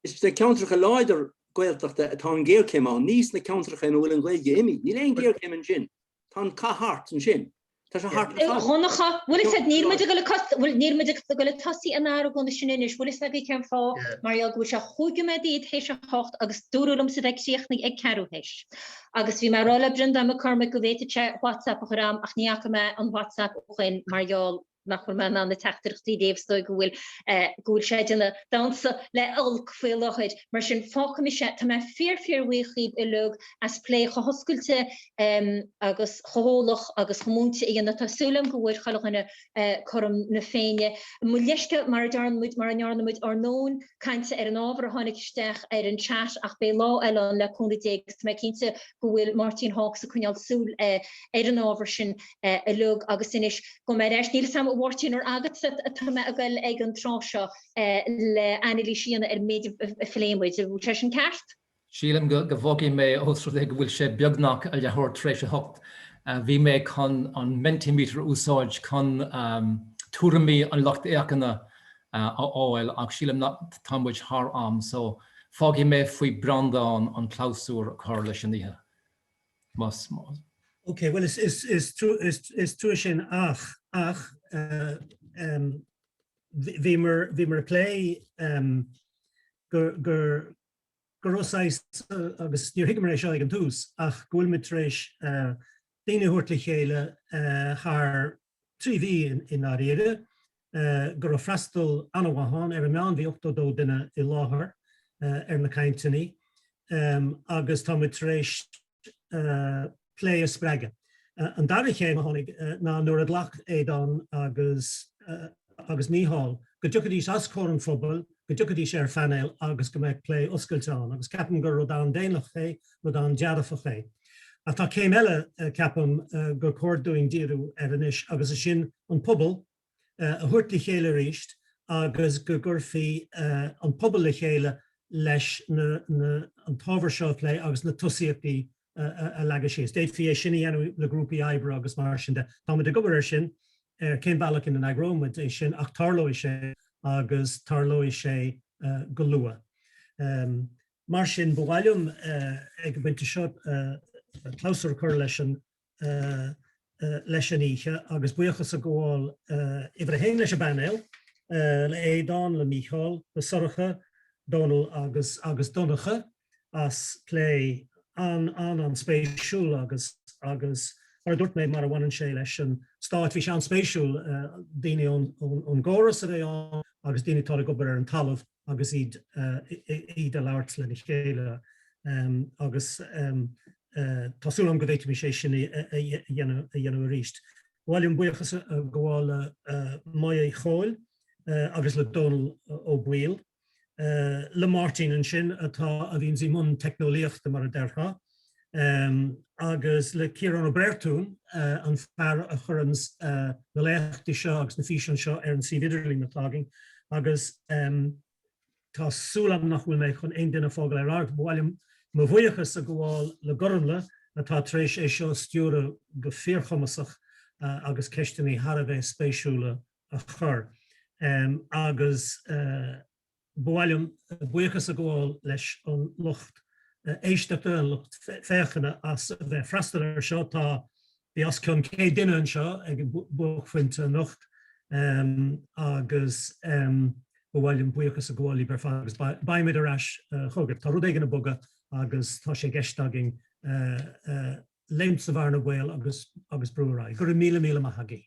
is sna ceantracha láidre Gaeltachta atá an géarchéim ann, ní sna ceantracha ina bhfuil an Ghaeilge imithe. Níl aon ghéarchéim ansin. Tá an cath thart ansin. Tá sé thart go fóill. Dhonncha, bhfuil fhios a'd, níl muid ag dul ag tos, bhuel, níl muid ag dul ag tosaí an argóint sin anois, bhfuil fhios agaibh cén fáth, mar gheall go bhfuil sé chúig nóiméad théis a hocht agus dúradh liomsa a bheith críochnaithe ag ceathrú théis. Agus bhí mé ag rá le Breandán Mac Cormaic go bhféadfadh sé WhatsApp a chur agam ach ní fhaca mé an WhatsApp ó shoin mar gheall nach bhfuil mé in ann na teachtaireachtaí a léamh, is dóigh go bhfuil, eh, go bhfuil sé ag déanamh domhsa le olc faoi láthair. Mar sin, fágfaidh mé sé, tá mé fíor, fíor bhuíoch daoibh uileag. as plé chomh hoscailte agus chomh heolach agus chomh múinte a dhéanamh. Tá súil agam go bhfuair chuile dhuine Cothrom na Féinne. Mo leithscéal mara dtearn muid, mara ndearna muid, ár ndóthain cainte ar an ábhar a tháinig isteach ar an chat ach beidh lá eile ann, le cúnamh Dé, agus tá mé cinnte go bhfuil Máirtín Hawkes ag coinneáil súil ar an ábhar sin uilig. Agus anois, gabhfaidh mé ar ais. Níl 'fhios a'm, a Mháirtín, an agatsa atá mé a ghoil ag an tráth seo le anailís a dhéanamh ar an méid a phléigh muid. An bhfuil sé sin ceart? Sílim go bhfágfaidh mé, ós rud é go bhfuil sé beagnach a leathuair tar éis a hocht. Bhí mé chun an Mentimeter a úsáid chun tuairimí an lucht féachana a fháil ach sílim nach tá muid thar am, só fágfaidh mé faoi Bhreandán an clabhsúr a chur leis an oíche. Más. Okay, bhuel, is trua sin ach, ach, em, bhíomar, bhíomar ag plé, em, gur, gur, go raibh saghas, agus níor thuigeamar é seo ag an tús, ach go bhfuilimid tar éis daoine a thabhairt le chéile thar trí mhí i ndáiríre, go raibh freastal an-mhaith ann, ar an meán bhí 82 duine i láthair ar na cainteanna, agus táimid tar éis, plé a spreagadh. An dara céim a tháinig ná nuair a ghlac Aodán agus agus Micheál go dtiocfaidís os comhair an phobail, go dtiocfaidís ar phainéal agus go mbeadh plé oscailte ann agus ceapaim gur rud an-daonlathach é, rud an-dearfach é. Ach tá céim eile, ceapaim, gur chóir dúinn díriú air anois agus is sin an pobal, a thabhairt le chéile arís agus go gcuirfí an pobal le chéile leis an t-ábhar seo a phlé agus na tosaíochtaí a leagan síos. D'fhéadfaí é sin a dhéanamh le grúpaí oibre agus mar sin de. Táimid ag obair air sin, ar cén bealach ina n-eagróidh muid é sin, ach tarlóidh sé agus tarlóidh sé go luath. Mar sin, ba mhaith liom ag an bpointe seo clabhsúr a chur leis an. leis an oíche agus buíochas a ghabháil, uimhir a haon, leis an bpainéal, le Aodán, le Mícheál, le Sorcha, Dónal agus agus Donncha as plé an-an-an-spéisiúil agus agus mar a dúirt mé mar a bhaineann sé leis an stát bhí sé an-spéisiúil daoine ón gcóras a bheith ann agus daoine atá ag obair ar an talamh. agus iad ag labhairt lena chéile agus tá súil agam go bhféadfaimís é sin a dhéanamh arís. Ba mhaith liom buíochas a ghabháil le Moya Uí Chomhaill agus le Dónall Ó Baoill, le Máirtín ansin atá a bhíonns i mbun teicneolaíochta mar a déarfá, agus le Ciarán Ó Bréartúin, an fear a chuireann na léachtaí seo agus na físeáin seo ar an suíomh idirlín atá againn, agus tá súil agam nach bhfuil mé chun aon duine a fágáil ar lár. Ba mhaith liom mo bhuíochas a ghabháil le Gormlaith, atá tar éis é seo a stiúradh go fíorchumasach agus ceisteanna thar a bheith spéisiúla a chur. Agus. Ba mhaith liom buíochas a ghabháil leis an lucht éisteachta, an lucht féachana as a bheith ag freastal ar seo. Tá bhí os cionn 100 duine anseo ag an buaicphointe anocht agus ba mhaith liom buíochas a ghabháil libh ar fad agus beimid ar ais chugaibh. Tá rud éigin ag bogadh agus tá sé i gceist againn léimt sa bhearna bhaoil agus brú ar aghaidh. Go raibh míle míle maith agaibh.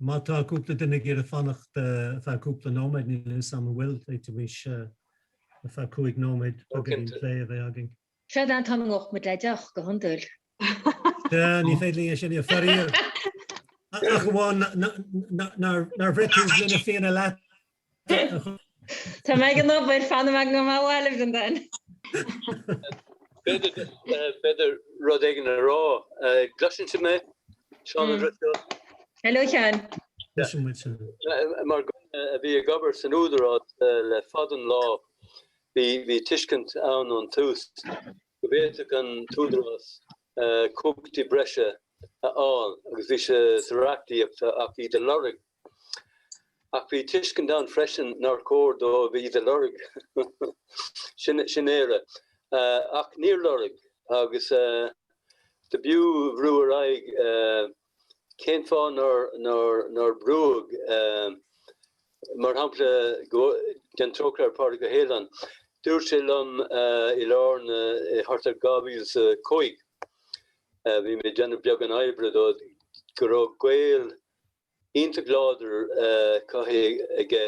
Má tá cúpla duine ag iarraidh fanacht ar feadh cúpla nóiméad, níl a fhios agam an bhfuil, d'fhéadfaimís ar feadh cúig nóiméad beagáinín plé a bheith againn. Seo an t-am a rachadh muid le haghaidh deoch, go hiondúil. Sea, ní féidir linn é sin faraor, ach amháin má bheir tú gloine fíona leat. Tá mé ag an obair, fanfaidh mé go mbeidh mé abhaile ar an domhan. B'fhéidir rud éigin a rá. An gcloiseann sibh mé, Seán an droichead seo. Heileo Sheáin. Cloiseann muid, sea. Mar dhuine a bhí ag obair san Údarás le fada an lá, bhí tuiscint ann ón tús go bhféadfadh an tÚdarás cumhachtaí breise a fháil agus bhí sé sa reachtaíocht ach iad a lorg Ach bhí tuiscint ann freisin nár chóir dóibh iad a lorg. Sin Éire. Ach níor lorg, agus do b'fhiú bhrú ar aghaidh. Cén fáth nár brúdh, mar shampla, déan trócaire air, Pádraig Ó hAoláin? Dúirt sé liom i lár na, i thart ar 2005, bhí mé ag déanamh beagán oibre dó, go raibh gaol Iontach láidir cothaithe aige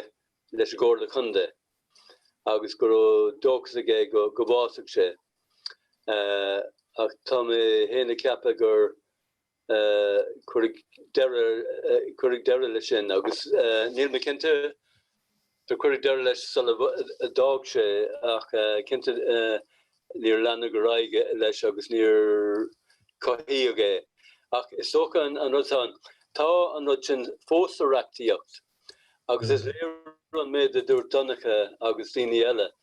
leis an gComhairle Contae agus go raibh dóchas aige go bhfásfadh sé. Ach tá mé féin ag ceapadh gur cuireadh deireadh, cuireadh deireadh leis sin agus níl mé cinnte, Do cuireadh deireadh leis sula d'fhág sé, ach cinnte níor leanadh ar aghaidh leis agus níor cothaíodh é. Ach is dócha an rud atá ann, tá an rud sin fós sa reachtaíocht, agus is léir ón méid a dúirt Donncha agus daoine eile,